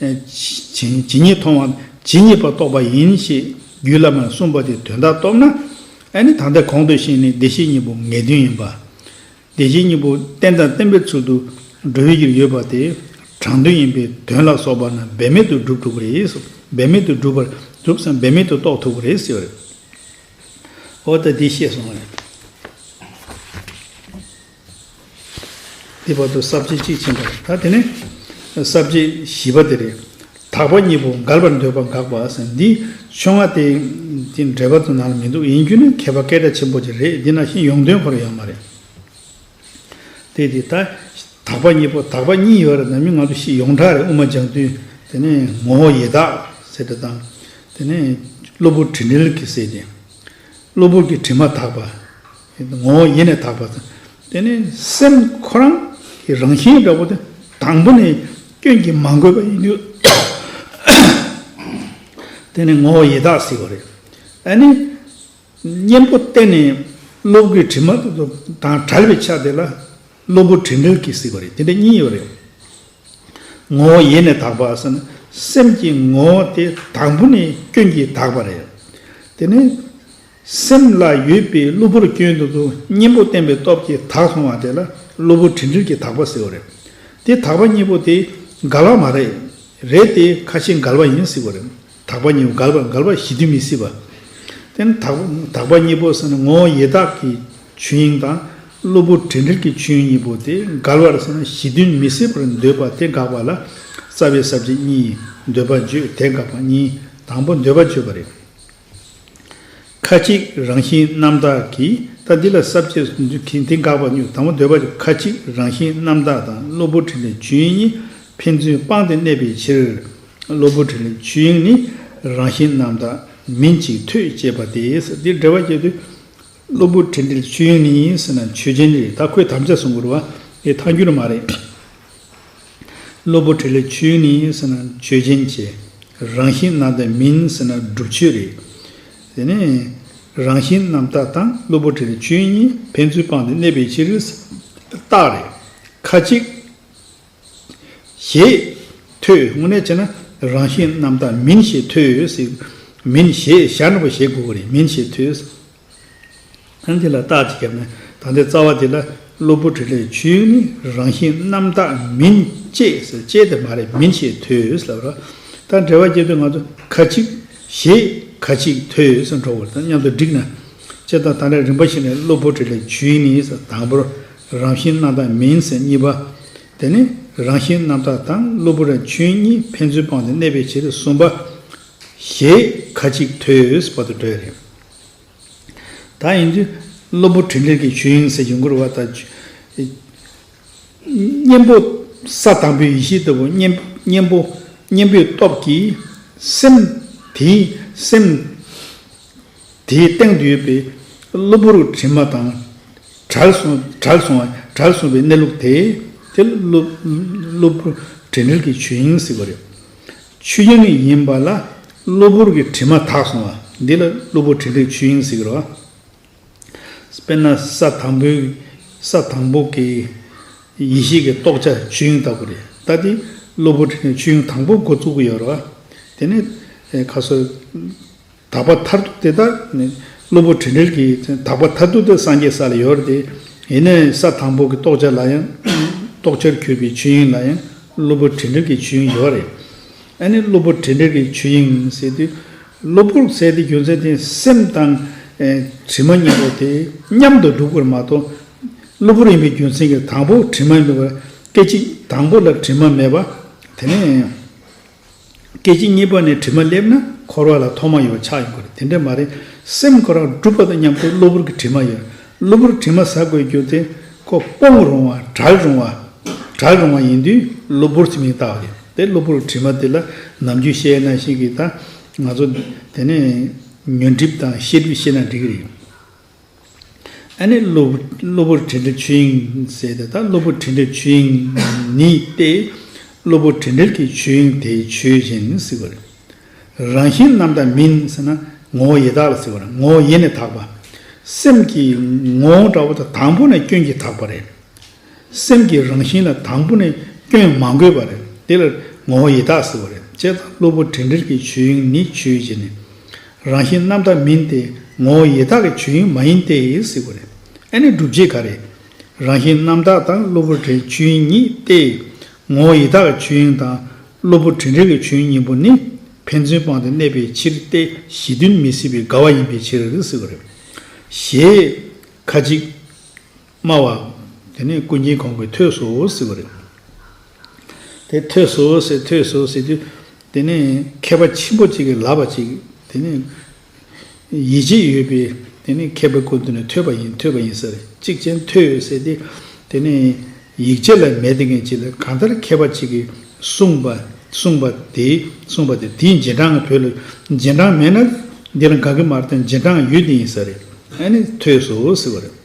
S1: ཇི་སྙེད་མཐོང་བ་ཇི་སྙེད་པར་རྟོགས་པ་ཡིན་ཞེས་རྒྱུད་བླ་མས་གསུངས་པ་དེ་དོན་དག་རྟོགས་ན། ཨ་ནི་ད་ལྟའི་གོང་དུ་བཤད་ནི་བདེ་གཤེགས་གཉིས་པོ་ངེས་དོན་ཡིན་པ། བདེ་གཤེགས་གཉིས་པོ་རྟེན་དང་བརྟེན་པའི་ཚུལ་དུ་འགྲོ་བའི་རྒྱུར་ཡོད་པ་དེ་དྲང་དོན་ཡིན་པས་དོན་ལ་སོགས་པ་རྣམས་འབད་མེད་དུ་བསྒྲུབ་ཐུབ་པ་རེད། འབད་མེད་དུ་བསྒྲུབ་པར་གྲུབ་ཙམ་འབད་མེད་དུ་རྟོགས་ཐུབ་པ་རེད་ཟེར་བ་རེད། འོ་ད་འདི་ཤེས་སོང། དེའི་བར་དུ་ས་བཅད་གཅིག་ཕྱིན་པ་རེད་ད་དེ་ནི་ས་བཅད་བཞི་པ་དེ་རེད། དག་པ་གཉིས་པོ་འགལ་བར་འདོད་པ་འགགས་པ་ཟེར་འདི་ཆོས་ང་དེ་དེ་འགྲེལ་པ་དུ་ན་ལ་མི་འདུག་ཡིན་རྒྱུ་ནི་མཁས་པ་སྐད་གྲགས་ཆེན་པོ་ཅིག་རེད་འདི་ན་ཤིང་ཡོངས་འདོན་ཁོར་ཡང་མ་རེད། དེ་དེ་ད་དག་པ་གཉིས་པོ་དག་པ་གཉིས་ཡོད་རེད་ད་མི་ང་ཚོ་ཤིས་ཡོངས་གྲགས་རེད་དབུ་མ་སྦྱང་དུས་དེ་ནི་ངོ་བོ་ཡེ་དག་ཟེར་དེ་དང། དེ་ནི་གློ་བུར་དྲི་འགྲེལ་གྱིས་ཟེར་ཏེ། གློ་བུར་གྱི་དྲི་མ་དག་པ། ངོ་བོ་ཉིད་ནི་དག་པ་དང། དེ་ནི་སེམས་ཁོ་རང་གི་རང་བཞིན་འདྲ་བོ་དེ་དང་པོ་ནི་སྐྱོན་གྱིས་མ་གོས་པ་ཡིན་དུས། དེ་ནི་ངོ་བོ་ཡི་དྭགས་སྲིད་པ་རེད། ཨ་ནི། གཉེན་པོ་བསྟེན་ནས་སློབ་དགུའི་དྲི་མ་དང་བྲལ་བའི་ཆ་དེ་ལ་སློབ་བུ་དྲི་འབྲལ་གྱིས་སྲིད་པ་རེད་དེ་འདྲ་གཉིས་ཡོད་རེད། ངོ་བོ་ཡེ་ནས་དག་པ་ཟེར་ན་སེམས་ཀྱི་ངོ་བོ་དེ་དང་པོ་ནི་སྐྱོན་གྱིས་དག་པ་རེད། དེ་ནི། སེམས་ལ་ཡོད་པའི་གློ་བུར་སྐྱོན་དུ་དུ་གཉེན་པོ་བསྟན་པའི་སྟོབས་ཀྱིས་དག་སོང་བ་དེ་ལ་གློ་བུར་དྲི་འདྲིར་གྱི་དག་པ་ཟེར་བ་རེད། དེ་དག་པ་གཉིས་པོ་དེ་འགལ་བ་མ་རེད། རེད་དེ་ཁ་ཤས་འགལ་བ་ཡིན་སྲིད་པ་རེད། དག་པ་གཉིས་པོ་འགལ་བ་འགལ་བ་ཞི་དུས་མི་སྲིད་པ། དེ་ནི་དག་དག་པ་གཉིས་པོ་ཟེར་ན་ངོ་བོ་ཡེ་དག་གི་ཆོས་དབྱིངས་དང་གློ་བུར་དྲི་འདྲིར་གྱི་ཆོས་དབྱིངས་གཉིས་པོ་དེ་འགལ་བར་ཟེར་ན་ཞི་དུས་མི་སྲིད་པར་འདོད་པ་དེ་དགག་པ་ལ་རྩ་བའི་ཟབ་ཆ་གཉིས་ཡིན་འདོད་པ་བརྗོད་དེ་དགག་པ་གཉིས་དང་པོ་འདོད་པ་བརྗོད་པ་རེད། ཁ་ཅིག་རང་བཞིན་རྣམ་དག་གིས་ལྟ་འདི་ལ་ཟབ་ཅེས་གསུངས་ཚུལ་གྱིས་དེ་འགགས་པ་སྙུག་དང་པོ་འདོད་པ་ལས་ཁ་ཅིག་རང་བཞིན་རྣམ་དག་དང་གློ་བུར་དྲི་ལས་ཆོས་དབྱིངས་གཉིས་ཕན་ཚུན་སྤངས་ཏེ་གནས་པའི་ཕྱིར། གློ་བུར་དྲི་ལས་ཆོས་དབྱིངས་ནི་རང་བཞིན་རྣམ་དག་མིན་ཅིག་ཐོས་ཅེས་པ་དེས་འདིར་འགྲེལ་བ་བསྐྱེད་དོ། གློ་བུར་དྲན་འཕྲིན་ཆོས་དབྱིངས་ནི་ཡིན་ཟེར་ན་ཆོས་ཅན་རེད་ད་ཁོས་དམ་བཅའ་བཟུང་དགོས་རེད་ཨེ་ཐང་འགྱུར་མ་རེད། གློ་བུར་དྲན་འཕྲིན་ཆོས་དབྱིངས་ནི་ཡིན་ཟེར་ན་ཆོས་ཅན་གྱི། རང་བཞིན་རྣམ་དག་མིན་ཟེར་ན་སྒྲུབ་ཆོས་རེད། དེ་ནས། རང་བཞིན་རྣམ་དག་དང་གློ་བུར་དྲན་འཕྲིན་ཆོས་དབྱིངས་གཉིས་ཕན་ཚུན་སྤངས་ཏེ་གནས་པའི་ཕྱིར། རྟགས་རེད། ཁ་ཅིག། ཞེས་ཐོས་དངོས་གནས་བྱས་ན་རང་བཞིན་རྣམ་དག་མིན་ཞེས་ཐོས། མིན་ཞེས་ཞར་ནུབ་པ་བྱེད་དགོས་པ་རེད་མིན་ཞེས་ཐོས། ཨ་འདི་ལ་རྟགས་ཅི་བརྒྱབ་ནས་ད་ལྟའི་རྩ་བ་འདི་ལ་གློ་བུར་དྲི་ལས་བྱུས་ནི་རང་བཞིན་རྣམ་དག་མིན་ཅེས་ཟེར་དཔྱད་དེ་མ་རེད་མིན་ཞེས་ཐོས་ལབ། རྟགས་འབྲེལ་བ་བསྐྱེད་དོན་ང་ཚོ་ཁ་ཅིག། ཞེས་ཁ་ཅིག་ཐོས་འགྲོ་བ་དང་མཉམ་དུ་བསྒྲིགས་ན་དཔྱད་སྟངས་ད་ལྟ་རིམ་པ་ཞིག་ནས་གློ་བུར་དྲི་ལས་བྱུས་ནི་དང་པོར་རང་བཞིན་རྣམ་དག་མིན་སེམས་གཉིས་པ། དེ་ནས་རང་བཞིན་རྣམ་དག་དང་གློ་བུར་རང་བྱུང་གཉིས་ཕན་ཚུན་སྤངས་ཏེ་གནས་པའི་ཕྱིར་གསུམ་པ། ཞེས་ཁ་ཅིག་ཐོས་པ་དང་འདྲ་བ་རེད། ད་ཡིན་དུས་གློ་བུར་དྲི་འདྲེར་གྱི་ཆོས་དབྱིངས་གསལ་འབྱུང་འཁོར་བ་དང། གཉེན་པོ་ས་དང་པོའི་ཡེ་ཤེས་ལྟ་བུ་གཉེན་པོ་གཉེན་པོའི་སྟོབས་ཀྱིས་སེམས་དེའི་སེམས། དེའི་སྟེང་དུ་ཡོད་པའི་གློ་བུར་དྲི་མ་དང། གྲགས་སོང་བའི་གནས་ལུགས་དེ། དེ་གློ་བུར་དྲི་མེད་ཀྱི་ཆོས་དབྱིངས་ཟེར་བ་རེད། ཆོས་དབྱིངས་ཡིན་པ་ལ་གློ་བུར་གྱི་དྲི་མ་དག་སོང་བ་འདི་ལ་གློ་བུར་དྲི་མེད་ཆོས་དབྱིངས་ཟེར། དཔེར་ན་ས་དང་པོའི་གི་ཡེ་ཤེས་ཀྱི་རྟོགས་བྱ་ཆོས་དབྱིངས་ལྟ་བུ་རེད། ད་དེ་གློ་བུར་དྲི་མེད་ཆོས་དབྱིངས་དང་པོ་འགོ་བཙུགས་ཀྱི་ཡོད་རེད། དེ་ནས་ཁ་སོ། དག་པ་མཐར་ཐུག་དེ་དག་ནི། སློབ་བུ་དྲི་འདྲལ་གྱིས། དག་པ་མཐར་ཐུག་དེ་སངས་རྒྱས་ས་ལ་ཡོད་དེ། ཡེ་ནས་ས་དང་པོ་གི་རྟོགས་བྱ་ལ་ཡང། རྟོགས་བྱར་གྱུར་པའི་ཆོས་དབྱིངས་ལ་ཡང། སློབ་བུ་དྲི་འདྲལ་གྱི་ཆོས་དབྱིངས་ཡོད་རེད། ཨ་ནི་སློབ་བུ་དྲི་འདྲལ་གྱི་ཆོས་དབྱིངས་ཟེར་དུས། སློབ་བུར་གསལ་ཏེ་རྒྱུ་མཚན་དེ་སེམས་དང། དྲི་མ་གཉིས་པོ་དེ་མཉམ་དུ་འདུག་པར་མ་མཐོང། སློབ་བུར་ཡིན་པའི་རྒྱུ་མཚན་གྱིས་དང་པོ་དྲི་མ་མེད་པར་སྐད་ཅིག་དང་པོ་ལ་དྲི་མ་མེད་པ། དེ་ནས། སྐད་ཅིག་གཉིས་པ་ནས་དྲི་མ་སླེབས་ན་འཁོར་བ་ལ་ཐོག་མ་ཡོད་ཆགས་ཡོད་དགོས་རེད་དེ་འདྲ་མ་རེད། སེམས་ཁོ་རང་གྲུབ་པ་དང་མཉམ་དུ་གློ་བུར་གྱི་དྲི་མ་ཡོད། གློ་བུར་དྲི་མ་ཟ་དགོས་རྒྱུ་དེ་ཁོ་སྤོང་རུང་བ་དྲག་རུང་བ། དྲག་རུང་བ་ཡིན་དུས་གློ་བུར་གྱི་མིང་བཏགས་བ་རེད་དེ་གློ་བུར་དྲི་མ་དེ་ལ་ནམ་རྒྱུན་བཤད་ན་ཞིག་གིས་ད་ང་ཚོ་དེ་ནས་ཉོན་སྒྲིབ་དང་ཤེས་སྒྲིབ་བཤད་ན་འགྲིག་གི་རེད། ཨ་ནི། གློ་བུར་དྲན་འདྲེན་ཆོས་དབྱིངས་ཟེར་ཏེ། ད་གློ་བུར་དྲན་འདྲེན་ཆོས་དབྱིངས་ནི་སྟེ། གློ་བུར་དྲན་འདྲེན་གྱི་ཆོས་དབྱིངས་དེ་ཆོས་གཞན་ནི་སྲིད་པ་རེད། རང་བཞིན་རྣམ་དག་མིན་ཟེར་ན་ངོ་བོ་ཡེ་དག་ལ་ཟེར་བ་རེད་ངོ་བོ་ཡེ་ནས་དག་པ། སེམས་ཀྱི་ངོ་བོ་འདྲ་བོ་དང་དང་པོ་ནས་སྐྱོན་གྱིས་དག་པ་རེད། སེམས་ཀྱི་རང་བཞིན་ལ་དང་པོ་ནས་སྐྱོན་མ་འགོས་པ་རེད། དེ་ལ་ངོ་བོ་ཡེ་དག་ཟེར་བ་རེད། ལྕེ་དང་གློ་བུར་དྲན་འདྲེར་གྱི་ཆོས་དབྱིངས་ནི་ཆོས་ཀྱི་ནི། རང་བཞིན་རྣམ་དག་མིན་ཏེ་ངོ་བོ་ཡེ་དག་གི་ཆོས་དབྱིངས་མ་ཡིན་ཏེ་ཟེར་བ་རེད། ཨེ་ནི་སྒྲུབ་བྱེད་ག་རེད། རང་བཞིན་རྣམ་དག་དང་གློ་བུར་དྲན་ཆོས་དབྱིངས་གཉིས་ཏེ། ངོ་བོ་ཡེ་དག་གི་ཆོས་དབྱིངས་དང། གློ་བུར་དྲན་འདྲེར་གྱི་ཆོས་དབྱིངས་གཉིས་པོ་ནི། ཕན་ཚུན་སྤངས་ཏེ་གནས་པའི་ཕྱིར་ཏེ་གཞི་མཐུན་མི་སྲིད་པའི་དགའ་བ་ཡིན་པའི་ཕྱིར་ཟེར་བ་རེད། ཞེས། ཁ་ཅིག། སྨྲ་བ། དེ་ནི་ཀུན་མཁྱེན་གོང་གི་ཐོས་སོ་ཟེར་བ་རེད། དེ་ཐོས་སོ་ཟེར་ཐོས་སོ་ཟེར་དུས། དེ་ནི་མཁས་པ་ཆེན་པོ་གཅིག་གིས་ལབ་པ་ཅིག་དེ་ནི། ཡིད་ཆེས་ཡོད་པས་དེ་ནི་མཁས་པའི་སྐུ་དེ་ནི་ཐོས་པ་ཡིན་ཐོས་པ་ཡིན་ཟེར་གཅིག་ཅན་ཐོས་ཟེར་ཏེ། དེ་ནི་ཡིག་ཆ་ལ་མེད་དེ་ངེས་ཅིག་ལ་གང་ལྟར་མཁས་པ་ཅིག་གིས་གསུངས་པ་གསུངས་པ་དེ་གསུངས་པ་དེ་དེའི་རྗེས་འབྲང་ང་བོད་ལ་རྗེས་འབྲང་མེད་ན། འདི་ལ་འགག་གི་མ་རེད་དོན་རྗེས་འབྲང་ཡོད་དེ་ཡིན་ཟེར། ཨ་ནི་ཐོས་སོ་ཟེར་བ་རེད།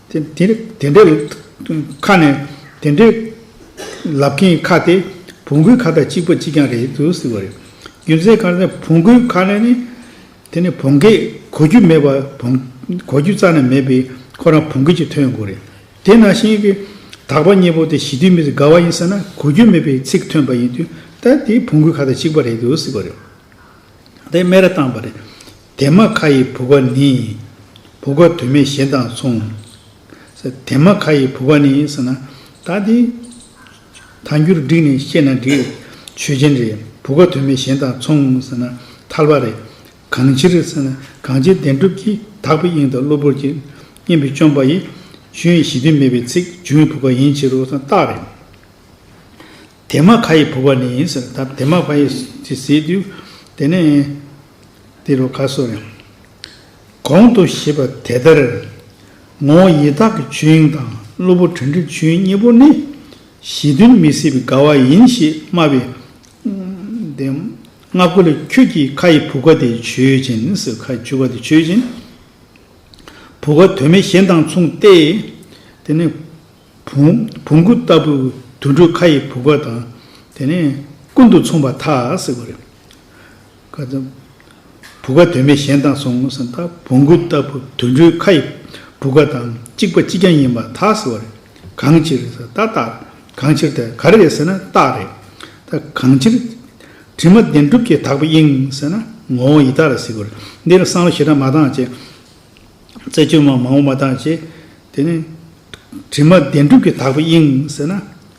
S1: དེ་འདྲའི་ཁ་ནས་དེ་འདྲའི་ལབ་མཁན་གྱི་ཁ་དེ་བོང་གུའི་ཁ་དང་གཅིག་པ་གཅིག་རྐྱང་རེད་དུ་ཟེར་བ་རེད། རྒྱུ་མཚན་གང་ལྟར་བོང་གུའི་ཁ་ནས་ནི་དེ་ནི་བོང་གས་གོ་རྒྱུ་མེད་པ་བོང་གོ་རྒྱུ་རྩ་ནས་མེད་པས་ཁོ་རང་བོང་གུ་གཅིག་ཐོན་དགོས་རེད། དེ་ནང་བཞིན་གྱི་དག་པ་གཉིས་པོ་དེ་ཞི་དུལ་མི་ཚེ་དགའ་བ་ཡིན་ཟེར་ན་གོ་རྒྱུ་མེད་པའི་ཚིག་ཐོན་པ་ཡིན་དུས་ད་དེ་བོང་གུའི་ཁ་དང་གཅིག་པ་རེད་དུ་ཟེར་བ་རེད། དེ་སྨད་ར་བཏང་བ་རེད། དེ་མ་ཁ་ཡི་བུ་པ་ནི། བུ་ག་དོན་མེད་གཞན་དང་མཚུངས། དེ་མ་ཁ་ཡི་བུ་པ་ནི་ཟེར་ན། ད་དེ། ད་འགྱུར་འགྲིག་ནས་བཤད་ན་འགྲིག། ཆོས་ཅན་རེད། བུ་ག་དོན་མེད་གཞན་དང་མཚུངས་ཟེར་ན། ཐལ་བ་རེད། གང་ཕྱིར་ཟེར་ན། གང་ཕྱིར་བདེན་གྲུབ་ཀྱིས་དག་པའི་དབྱིངས་དང་གློ་བུར་གྱི། གཉེན་པོས་བཅོམ་པ་ཡི། ཆོས་དབྱིངས་གཞི་དོན་མེད་པའི་ཚིག། འབྱུང་བའི་བུ་ག་ཡིན་ཕྱིར་རོ་ཟེར་ན་རྟགས་རེད། དེ་མ་ཁ་ཡི་བུ་པ་ནི་ཟེར། ད་དེ་མ་ཁ་ཡི་ཟེར། དེ་ནས། འདི་རུ་ཁ་གསོ་ཡང། གོང་དུ་བཞེད་པ་དེ་ལྟར། ངོ་བོ་ཡི་དྭགས་ཀྱི་ཆོས་དབྱིངས་དང་གློ་བུར་དྲན་རིག་ཆོས་དབྱིངས་གཉིས་པོ་ནི། གཞི་མཐུན་མི་སྲིད་པའི་དགའ་བ་ཡིན་ཞེས་སྨྲ་བའི། སྔགས་ཀུན་ལ་ཁྱོད་ཀྱིས་ཁ་ཡི་བུ་ག་དེ་ཆོས་ཅན། སོའི་ཁ་ཡི་བྱུ་ག་དེ་ཆོས་ཅན། བུ་ག་དོན་མེད་གཞན་དང་མཚུངས་ཏེ། དེ་ནི། བུང་གུ་ལྟ་བུ་དུད་འགྲོའི་ཁ་ཡི་བུ་ག་དང། དེ་ནི། ཀུན་ཏུ་མཚུངས་པ་དག། ཁ་ཙམ། བུ་ག་དོན་མེད་གཞན་བཏང་སོང་ངོ་བསམ་ད་བོང་གུ་ལྟ་བུ་དུད་འགྲོའི་ཁ་ཡི་བུ་ག་དང་གཅིག་པ་གཅིག་ཀྱང་ཡིན་པ་ཐག་ཟེར་བ་རེད། གང་ཕྱིར་རེད་ད་ཏག་གང་ཕྱིར་དེ་ག་རེ་རེད་ཟེར་ན་ཏག་རེད། ད་གང་ཕྱིར། དྲི་མ་བདེན་གྲུབ་ཀྱི་དག་པའི་དབྱིངས་ཟེར་ན་ངོ་བོ་ཡི་དག་རེད་ཟེར་དགོས་རེད། འདིར་བསམ་བློ་ཞེ་དྲག་མ་བཏང་བྱས། རྩད་གཅོད་མང་པོ་མ་བཏང་བྱས། དེ་ནས། དྲི་མ་བདེན་གྲུབ་ཀྱི་དག་པའི་དབྱིངས་ཟེར་ན།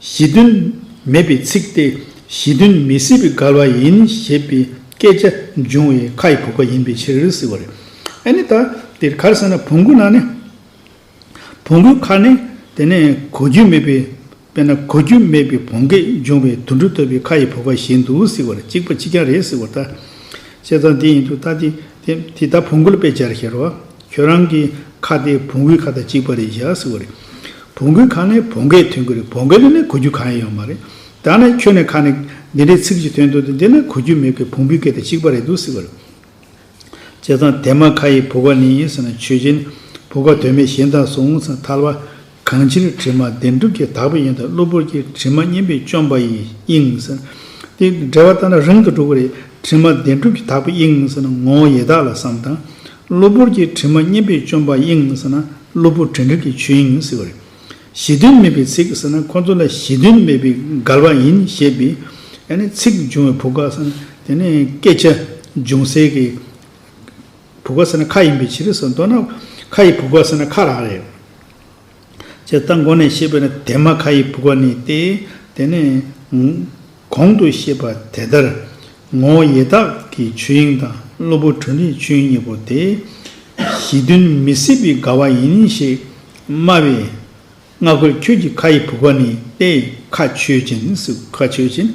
S1: གཞི་མཐུན། མེད་པའི་ཚིག་སྟེ་གཞི་མཐུན་མི་སྲིད་པའི་གར་བ་ཡིན་ཞེས་པའི་སྐད་ཆ་འབྱུང་བའི་ཁ་ཡི་བུག་པ་ཡིན་པའི་ཕྱིར་ཟེར་བ་རེད། ཨ་ནི་ད་དེར་གར་ཟེར་ན་བོང་གུ་ནང་ནས་བོང་གུའི་ཁར་ནས་དེ་ནས་གོ་རྒྱུ་མེད་པའི་དཔེར་ན་གོ་རྒྱུ་མེད་པའི་བོང་གས་འབྱུང་བའི་དུད་འགྲོ་ཐོད་པའི་ཁ་ཡི་བུག་པ་བཞིན་དུ་ཟེར་བ་རེད་གཅིག་པ་གཅིག་རྐྱང་རེད་ཟེར་བ་ལྟ། བཤད་སྟངས་དེ་ཡིན་དུས་ད་དེ་དེ་ད་བོང་གུ་ལ་དཔེ་སྦྱར་ཤེས་རོགས། ཁྱོད་རང་གི་ཁ་དེ་བོང་བུའི་ཁ་དང་གཅིག་པ་རེད་བཞག་ཟེར་བ་རེད། བོང་བུའི་ཁ་ནི་བོང་གས་ཐོན་གི་རེད་བོང་གས་ནི་ནི་གོ་རྒྱུ་གང་ཡང་ཡོད་མ་རེད། ད་ནི་ཁྱོད་ནི་ཁ་ནི་འདི་འདྲའི་ཚིག་ཅིག་ཐོན་འདུག་སྟེ་འདི་ནི་གོ་རྒྱུ་མེད་གི་བོང་བུའི་སྐད་དང་གཅིག་པ་རེད་འདུག་ཟེར་བ་རེད། བྱས་ཙང་དེ་མ་ཁ་ཡི་བུ་ག་ནི་ཡིན་ཟེར་ན་ཆོས་ཅན། བུ་ག་དོན་མེད་གཞན་དག་སོང་ཚང་ཐལ་བ། གང་ཕྱིར་དྲི་མ་བདེན་གྲུབ་ཀྱི་དག་པའི་ཡོན་ཏན་གློ་བུར་གྱི་དྲི་མ་སྙེམས་པའི་བཅོམ་པ་ཡི་དབྱིངས། དེ་འབྲེལ་བ་ལྟར་ན་རིང་དུ་འགྲོ་གི་རེད། དྲི་མ་བདེན་གྲུབ་ཀྱི་དག་པའི་དབྱིངས་ཟེར་ན་ངོ་བོ་ཡེ་དག་ལ་བསམ་དང། གློ་བུར་གྱི་དྲི་མ་སྙེམས་པའི་བཅོམ་པ་དབྱིངས་ཟེར་ན་གློ་བུར་དྲན་རིག་གི་ཆོས་དབྱིངས་ཟེར་བ་རེད། གཞི་དོན་མེད་པའི་ཚིག་ཟེར་ན་ཁོ་ཚོ་ལ་གཞི་དོན་མེད་པའི་འགལ་བ་ཡིན་ཞེས་པའི། ཚིག་འབྱུང་བའི་བུ་ག་ཟེར་ན་དེ་ནི་སྐད་ཆ་འབྱུང་སའི་གི། བུ་ག་ཟེར་ན་ཁ་ཡིན་པའི་ཕྱིར་ཟེར་མདོར་ན་ཁ་ཡི་བུ་ག་ཟེར་ན་ཁ་རང་རེད། ཅེས་རྟ་མགོ་ནས་ཤེས་པས་ན་དེ་མ་ཁ་ཡི་བུག་པ་ནི་སྟེ། དེ་ནས། གོང་དུ་བཤད་པ་དེ་ལྟར། ངོ་བོ་ཡེ་དག་གི་ཆོས་དབྱིངས་དང་གློ་བུར་དྲོད་འདུས་ཆོས་དབྱིངས་གཉིས་པོ་དེ། གཞི་མཐུན་མི་སྲིད་པའི་དགའ་བ་ཡིན་ཞེས་སྨྲ་བས། སྔ་རྒོལ་ཁྱོད་ཀྱི་ཁ་ཡི་བུག་པ་ནི་སྟེ་ཁ་ཆོས་ཅན་ནི་སྲིད་ཁ་ཆོས་ཅན།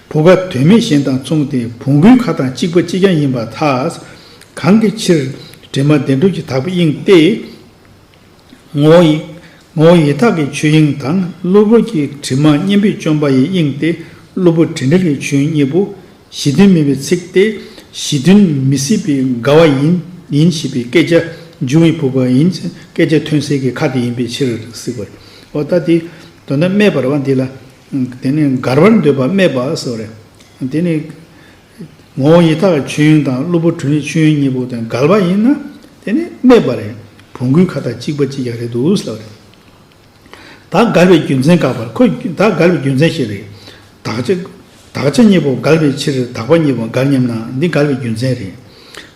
S1: བུག་པ་དོན་མེད་གཞན་དང་མཚུངས་ཏེ་བུང་བུའི་ཁ་དང་གཅིག་པ་གཅིག་ཀྱང་ཡིན་པ་ཐག། གང་གི་ཕྱིར། དྲི་མ་བདེ་འགྲོ་གྱི་དག་པའི་དབྱིངས་ཏེ། ངོ་བོ་ཡི། ངོ་བོ་ཡི་དྭགས་ཀྱི་ཆོས་དབྱིངས་དང་གློ་བུར་གྱི་དྲི་མ་གཉེན་པོས་བཅོམ་པ་ཡི་དབྱིངས་ཏེ་གློ་བུར་དྲི་འདྲེན་གྱི་ཆོས་གཉིས་པོ། གཞི་མཐུན་མིན་པའི་ཚིག་སྟེ། གཞི་མཐུན་མི་སྲིད་པའི་དགའ་བ་ཡིན་ཡིན་ཞེས་པའི་སྐད་ཆ་འབྱུང་བའི་བུ་ག་ཡིན་ཕྱིན་སྐད་ཆ་ཐོན་སའི་གི་ཁ་དེ་ཡིན་པའི་ཕྱིར་སིག་པ་རེད། ད་དེ་དོན་དམ་སྨྲས་པར་བ་འདི་ལ། དེ་ནི་དགར་བར་འདོད་པ་སྨྲས་པ་སོགས་རེད། དེ་ནི། ངོ་བོ་ཉིད་ཐག་མཆོད་ཡོན་དང་གློ་བུར་དྲུང་ཡིག་མཆོད་ཡོན་གཉིས་པོ་དོན་གལ་བ་ཡིན་ན་དེ་ནི་སྨྲས་པ་རེད་བོང་གུའི་ཁ་ཐག་གཅིག་པ་གཅིག་ཀྱང་རེད་འདུག་ཟེར་བ་རེད། དག་གལ་བའི་རྒྱུ་མཚན་དགག་པར་ཁོ་དག་གལ་བའི་རྒྱུ་མཚན་ཞིག་རེད། དགག་བྱ། དགག་བྱ་གཉིས་པོ་གལ་བའི་ཕྱིར་དགག་པ་གཉིས་པོ་འགལ་སྙམ་ན་འདི་གལ་བའི་རྒྱུ་མཚན་རེད།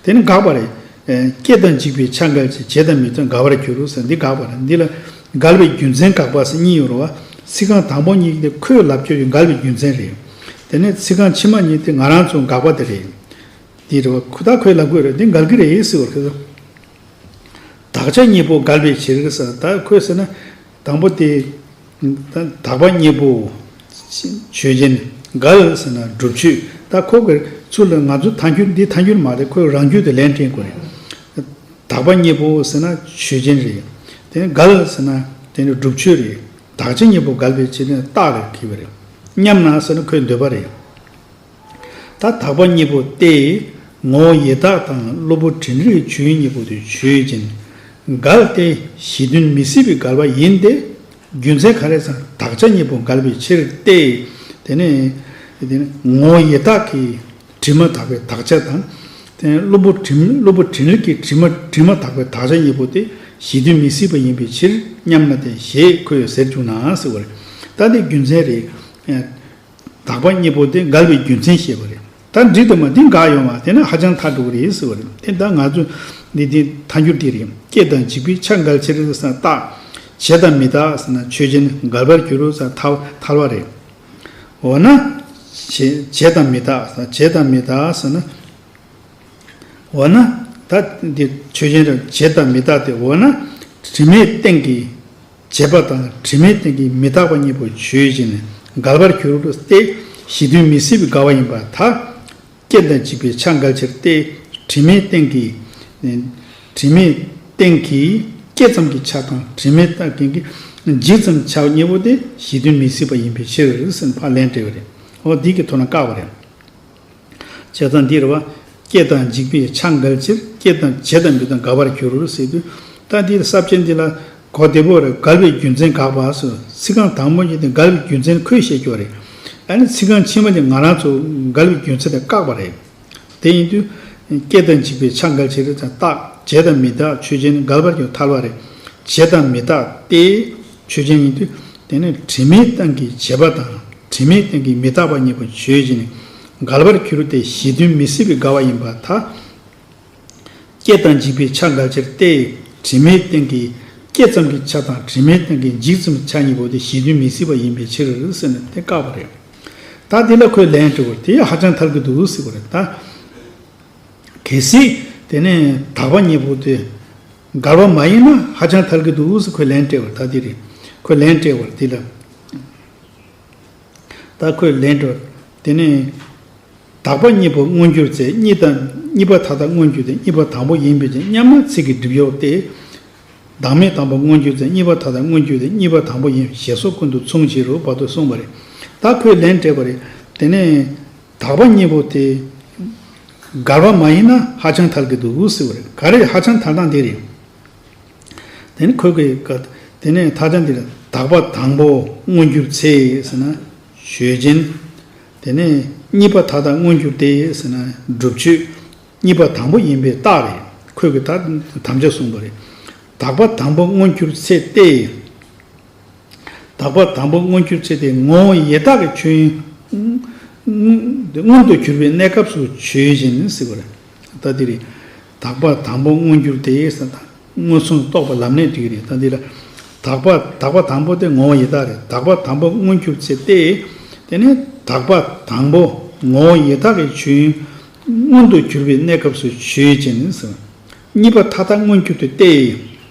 S1: དེ་ནི་འགག་པ་རེད། སྐྱེ་དང་འཇིག་པའི་ཆ་འགག་ཅིང་བྱེད་དང་མི་རྩོལ་འགག་པར་འགྱུར་རོ་ཟེར་འདི་འགག་པར་འདི་ལ། འགལ་བའི་རྒྱུ་མཚན་འགག་པ་སེམས་གཉིས་ཡོད་རུང་བ། ཚིག་རྐང་དང་པོ་གཉིས་འདི་ཁོའི་ལབ་ཀྱོ་ཡོད་འགལ་བའི་རྒྱུ་མཚན་རེད། དེ་ནས་ཚིག་རྐང་ཕྱི་མ་གཉིས་འདི་ང་རང་ཚོ་འགག་པ་དེ་རེད། འདི་རེད་བ། ཁོ་ད་ཁོའི་ལབ་ཀྱོ་རེད་འདི་འགལ་གྱི་རེད་ཟེར་བར་ཁེལ་ཏོ། དག་ཆ་གཉིས་པོ་འགལ་བའི་བྱེད་རིགས་ཟེར་ད་ཁོས་ཟེར་ན། དང་པོ་དེ། དག་པ་གཉིས་པོ། ཆོས་ཅན། འགའ་ལ་ཟེར་ན་སྒྲུབ་ཆོས། ད་ཁོ་གིས་ཚུར་ལ་ང་ཚོ་ཐ་འཁྱུད་འདི་ཐ་འཁྱུད་མ་རེད་ཁོས་རང་རྒྱུད་དུ་ལན་སྤྲིངས་དགོས་རེད། དག་པ་གཉིས་པོ་ཟེར་ན་ཆོས་ཅན་རེད། དེ་ནས་འགའ་ལ་ཟེར་ན་དེ་ནི་སྒྲུབ་ཆོས་རེད། དག་བྱེད་གཉིས་པོ་འགལ་བའི་ཕྱིར་ནི་རྟགས་ལས་གྱིས་པ་རེད། མཉམ་ན་ཟེར་ན་ཁོའི་འདོད་པ་རེད། ད་དག་པ་གཉིས་པོ་སྟེ། ངོ་བོ་ཡི་དྭགས་དང་གློ་བུར་དྲིན་རིག་བྱུས་གཉིས་པོ་དུ་ཆོས་ཅན། འགལ་ཏེ་གཞི་མཐུན་མི་སྲིད་པའི་འགལ་བ་ཡིན་ཏེ། རྒྱུ་མཚན་ག་རེ་ཟང་དག་ཆ་གཉིས་པོ་འགལ་བའི་ཕྱིར་ཏེ། དེ་ནི། ངོ་བོ་ཡི་དྭགས་ཀྱི་དྲི་མ་དག་པའི་དག་ཆ་དང། གློ་བུར་དྲིན་རིག་གི་དྲི་མ་དག་པའི་དག་ཆ་གཉིས་པོ་དེ་གཞི་མཐུན་མི་སྲིད་པ་ཡིན་པའི་ཕྱིར་སྙམ་ན་སྟེ་ཞེས་ཁོས་ཟེར་བྱུང་ནའང་སྲིད་བ་རེད། ད་འདི་རྒྱུ་མཚན་རེད། དག་པ་གཉིས་པོ་དེ་དགར་བའི་རྒྱུ་མཚན་བཤད་པ་རེད། ད་འགྲིག་དེ་མ་དེ་འགག་ཡོང་བ་དེ་ན་ཧ་ཅང་མཐའ་དཀྲུག་རེད་ཟེར་བ་རེད་དེ་ད་ང་ཚོ་འདི་དེ་མཐའ་འགྱུར་དེ་རེད་སྐྱེ་དང་འཇིག་པའི་ཆ་འགག་ཕྱིར་ས་རྟགས། བྱེད་དང་མི་རྟགས་ཟེར་ན་ཆོས་ཅན་འགལ་བར་འགྱུར་རོ་ས་ཐལ་བ་རེད། འོ་ན། བྱེད་དང་མི་རྟགས་ཟེར་བྱེད་དང་མི་རྟགས་ཟེར་ན། འོ་ན། ད་དེ་ཆོས་ཅན་རེད་བྱེད་དང་མི་རྟགས་དེ་འོ་ན། དྲི་མེད་སྟེང་གི། བྱེད་པ་དང་དྲི་མའི་སྟེང་གི་མི་རྟག་པ་གཉིས་པོ་བརྗོད་ཅིང་འགལ་བར་གྱུར་ཏེ། གཞི་དོན་མི་སྲིད་པའི་དགའ་བ་ཡིན་པ་དག་རྐྱེན་དང་གཅིག་པའི་ཆ་འགལ་ཕྱིར་ཏེ། དྲི་མའི་སྟེང་གི། དྲི་མའི་སྟེང་གི་སྐྱེས་ཙམ་གྱི་ཆ་དང་དྲི་མའི་སྟེང་གི་འཇིག་ཙམ་ཆ་གཉིས་པོ་དེ་གཞི་དོན་མི་སྲིད་པ་ཡིན་པའི་ཕྱིར། འཕགས་ལན་སྤྲད་པ་རེད། འོ་འདི་གི་དོ་ན་བཀག་པ་རེད། བྱས་ཙང་འདིར་བ། སྐྱེ་དང་འཇིག་པའི་ཆ་འགལ་ཕྱིར་སྐྱེ་དང་བྱེད་དང་འབྲི་དང་དགག་པར་འགྱུར་སྲིད། དུས་ད་ལྟའི་ས་བཅད་འདི་ལ། གོ་བདེ་པོ་རེད་འགལ་བའི་རྒྱུ་མཚན་དགག་པ་སོགས་ཚིག་རྐང་དང་པོ་གཉིས་དེ་འགལ་བའི་རྒྱུ་མཚན་ཁོས་བཤད་རྒྱུ་རེད། ད་ནི་ཚིག་རྐང་ཕྱི་མ་དེ་ང་རང་ཚོ་འགལ་བའི་རྒྱུ་མཚན་དེ་བཀག་པ་རེད། དེ་ཡིན་དུས། སྐྱེ་དང་འཇིག་པའི་ཆ་འགལ་ཕྱིར་རྟག། བྱེད་དང་མི་རྟག་ཆོས་ཅན་འགལ་བར་གྱུར་ཐལ་བ་རེད། བྱེད་དང་མི་རྟག་སྟེ། ཆོས་ཅན་ཡིན་དུས་དེ་ནི་དྲི་མའི་སྟེང་གི་བྱེད་པ་དང་དྲི་མའི་སྟེང་གི་མི་རྟག་པ་གཉིས་པོ་བརྗོད་ཅིང་འགལ་བར་གྱུར་ཏེ་གཞི་དོན་མི་སྲིད་པའི་དགའ་བ་ཡིན་པ་དག་སྐྱེ་དང་འཇིག་པའི་ཆ་འགའ་ཕྱིར་ཏེ། དྲི་མའི་སྟེང་གི་སྐྱེ་ཙམ་གྱི་ཆ་དང་དྲི་མའི་སྟེང་གི་འཇིག་ཙམ་གྱི་ཆ་གཉིས་པོ་དེ་གཞི་དོན་མི་སྲིད་པ་ཡིན་པའི་ཕྱིར་ཟེར་ན་དེ་བཀག་པ་རེད། ད་འདི་ལ་ཁོས་ལན་སྤྲོད་པར་དེ་ཧ་ཅང་ཐབས་ཀྱི་འདུག་ཟེར་བ་རེད། ད་གལ་སྲིད་དེ་ནི་དག་པ་གཉིས་པོ་དེ། འགར་བ་མ་ཡིན་ན་ཧ་ཅང་ཐལ་གི་འདུག་དབུས་སུ་ཁོས་ལན་སྤྲད་བར་ད་འདི་རེད། ཁོས་ལན་སྤྲད་བར་འདི་ལ། ད་ཁོས་ལན་སྤྲད་བར་དེ་ནི། དག་པ་གཉིས་པོ་མངོན་གྱུར་ཚེ་གཉིས་དང། གཉིས་པ་ཐ་དག་མངོན་གྱུར་ཏེ་གཉིས་པ་དང་པོ་ཡིན་པས་ཅི་སྙམ་ན་ཚིག་གི་སྒྲིབ་གཡོགས་ཏེ། བདག་མེད་དང་པོ་མངོན་གྱུར་ཚེ་གཉིས་པ་ཐ་དག་མངོན་གྱུར་ཏེ་གཉིས་པ་དང་པོ་ཡིན་ཞེས་སོགས་ཀུན་ཏུ་མཚུངས་བྱེད་རུ་བ་དུ་གསུངས་པ་རེད། ད་ཁོས་ལན་སྤྲད་བར་དེ་ནི། དག་པ་གཉིས་པོ་དེ། མགར་བ་མ་ཡིན་ན་ཧ་ཅང་ཐལ་གྱི་འདུག་འུ་སི་བ་རེད་ག་རེད་ཧ་ཅང་ཐལ་སྟངས་དེ་རེད། དེ་ནི་ཁོས་གི་ག། དེ་ནས་ད་ཆ་འདིར་དག་པ་དང་པོ་མངོན་གྱུར་ཚེ་ཟེར་ན། ཞོལ་རྒྱན། དེ་ནས་གཉིས་པ་ད་ལྟ་མངོན་གྱུར་ཏེ་ཟེར་ན་སྒྲུབ་མཆོད། གཉིས་པ་དང་པོ་ཡིན་པའི་རྟགས་རེད་ཁོས་གི་ད་དམ་བཅའ་གསུངས་པ་རེད། དག་པ་དང་པོ་མངོན་གྱུར་ཚེ་སྟེ། དག་པ་དང་པོ་མངོན་གྱུར་ཚེ་དེ་ངོ་བོ་ཡེ་དག་གི་ཆོས་དབྱིངས། མངོན་དུ་གྱུར་པའི་གནས་སྐབས་སུ་ཆོས་བཞིན་གཟིགས་པར་ལྟ་སྟེ། དག་པ་དང་པོ་མངོན་གྱུར་དེ་ཡེ་ས་དང་མངོན་སུམ་རྟོགས་པ་ལམ་གནད་དུས་རེད་ལྟ་སྟེ། དག་པ་དག་པ་དང་པོ་དེ་ངོ་བོ་ཡེ་དག་རེད་དག་པ་དང་པོ་མངོན་གྱུར་ཚེ་སྟེ། དེ་ནས་དག་པ་དང་པོ་ངོ་བོ་ཡེ་དག་གི་ཆོས་དབྱིངས། མངོན་དུ་གྱུར་པའི་གནས་སྐབས་སུ་ཆོས་བཞིན་གཟིགས་པ། གཉིས་པ་མཐའ་དག་མངོན་གྱུར་དུ་སྟེ།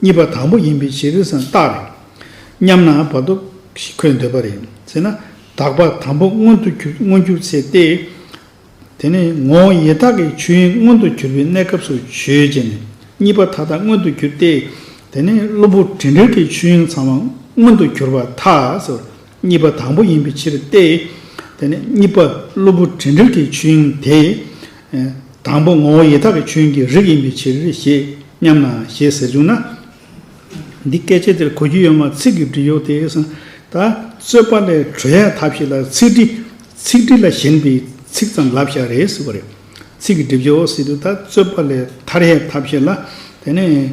S1: གཉིས་པ་དང་པོ་ཡིན་པའི་ཞེས་རིགས་སམ་རྟགས་རེད་སྙམ་ན་བར་དོ་ཞིག་འཁོད་འདོད་པ་རེད། ཟེར་ན། དག་པ་དང་པོ་མངོན་དུ་གྱུར་མངོན་གྱུར་ཚེ་སྟེ། དེ་ནས་ངོ་བོ་ཡེ་དག་གི་ཆོས་དབྱིངས་མངོན་དུ་གྱུར་པའི་གནས་སྐབས་སུ་བརྗོད་ཅེ་ནས། གཉིས་པ་མཐའ་དག་མངོན་དུ་གྱུར་ཏེ། དེ་ནས་གློ་བུར་དྲན་རིག་གི་ཆོས་དབྱིངས་ཚང་མ་མངོན་དུ་གྱུར་པ་མཐའ། གཉིས་པ་དང་པོ་ཡིན་པའི་ཕྱིར་ཏེ། དེ་ནས་གཉིས་པ་གློ་བུར་དྲན་དྲུག་གི་ཆོས་དབྱིངས་དེ། དང་པོ་ངོ་བོ་ཡེ་དག་གི་ཆོས་དབྱིངས་ཀྱི་རིགས་ཡིན་པའི་ཕྱིར་ཞེས་སྙམ་ན་ཞེས་ཟེར་བྱུང་ན། འདི་སྐད་ཆའི་དེར་གོ་རྒྱུ་ཡོད་མ་ཚིག་གི་འབྲི་གཡོག་དེས་ད་རྩོད་པ་ལས་གྲོལ་ཡ་ཐབས་ཤིག་ལ་ཚིག་འབྲི། ཚིག་འབྲི་ལ་ཞེན་པའི་ཚིག་ཙམ་ལབ་བཞག་རེད་ཟེར་བ་རེད། ཚིག་གི་སྒྲིབ་བྱེད་འོག་སྲིད་དུ་ད་རྩོད་པ་ལས་ཐར་ཡའི་ཐབས་ཤིག་ལ་དེ་ནས།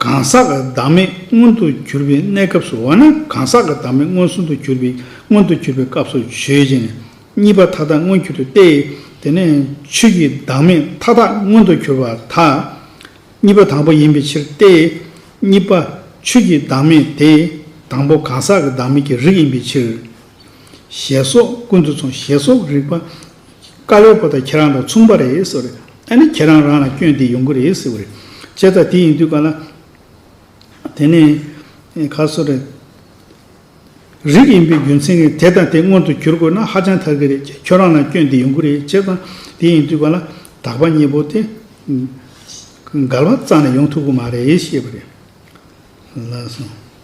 S1: གང་ཟག་གི་བདག་མེད་མངོན་དུ་གྱུར་པའི་གནས་སྐབས་སུ་འོ་ན་གང་ཟག་གི་བདག་མེད་མངོན་སུམ་དུ་གྱུར་པའི་མངོན་དུ་གྱུར་པའི་སྐབས་སུ་ཆོས་ཅན། གཉིས་པ་མཐའ་དག་མངོན་གྱུར་ཏེ་སྟེ། དེ་ནས་ཆོས་ཀྱི་བདག་མེད་མཐའ་དག་མངོན་དུ་གྱུར་པ་དག། གཉིས་པ་དང་པོ་ཡིན་པའི་ཕྱིར་ཏེ། གཉིས་པ་ཆོས་ཀྱི་བདག་མེད་དེ། དང་པོ་གང་ཟག་གི་བདག་མེད་ཀྱི་རིགས་ཡིན་པའི་ཕྱིར། ཞེས་སོགས་ཀུན་ཏུ་མཚུངས་ཞེས་སོགས་རིགས་པ་བཀའ་བློན་ཁོ་ད་ཁྱེད་རང་དང་མཚུངས་པ་རེད་ཟེར་བ་རེད། ཨ་ནི་ཁྱེད་རང་རང་ལ་སྐྱོན་དེ་ཡོང་གི་རེད་ཟེར་བ་རེད། བྱས་ཙང་དེ་ཡིན་དུས་ག་ལ། དེ་ནས། ག་སོ་རེད། རིགས་ཡིན་པའི་རྒྱུ་མཚན་གྱིས་དེ་དང་དེ་སྔོན་དུ་གྱུར་དགོས་ན་ཧ་ཅང་ཐག་གི་རེད། ཁྱོད་རང་ལ་སྐྱོན་དེ་ཡོང་གི་རེད་བྱས་ཙང་དེ་ཡིན་དུས་ག་ལ། དག་པ་གཉིས་པོ་དེ། འགལ་བ་རྩ་ནས་ཡོང་ཐུབ་གི་མ་རེད་ཞེས་པ་རེད། ལགས་སོ།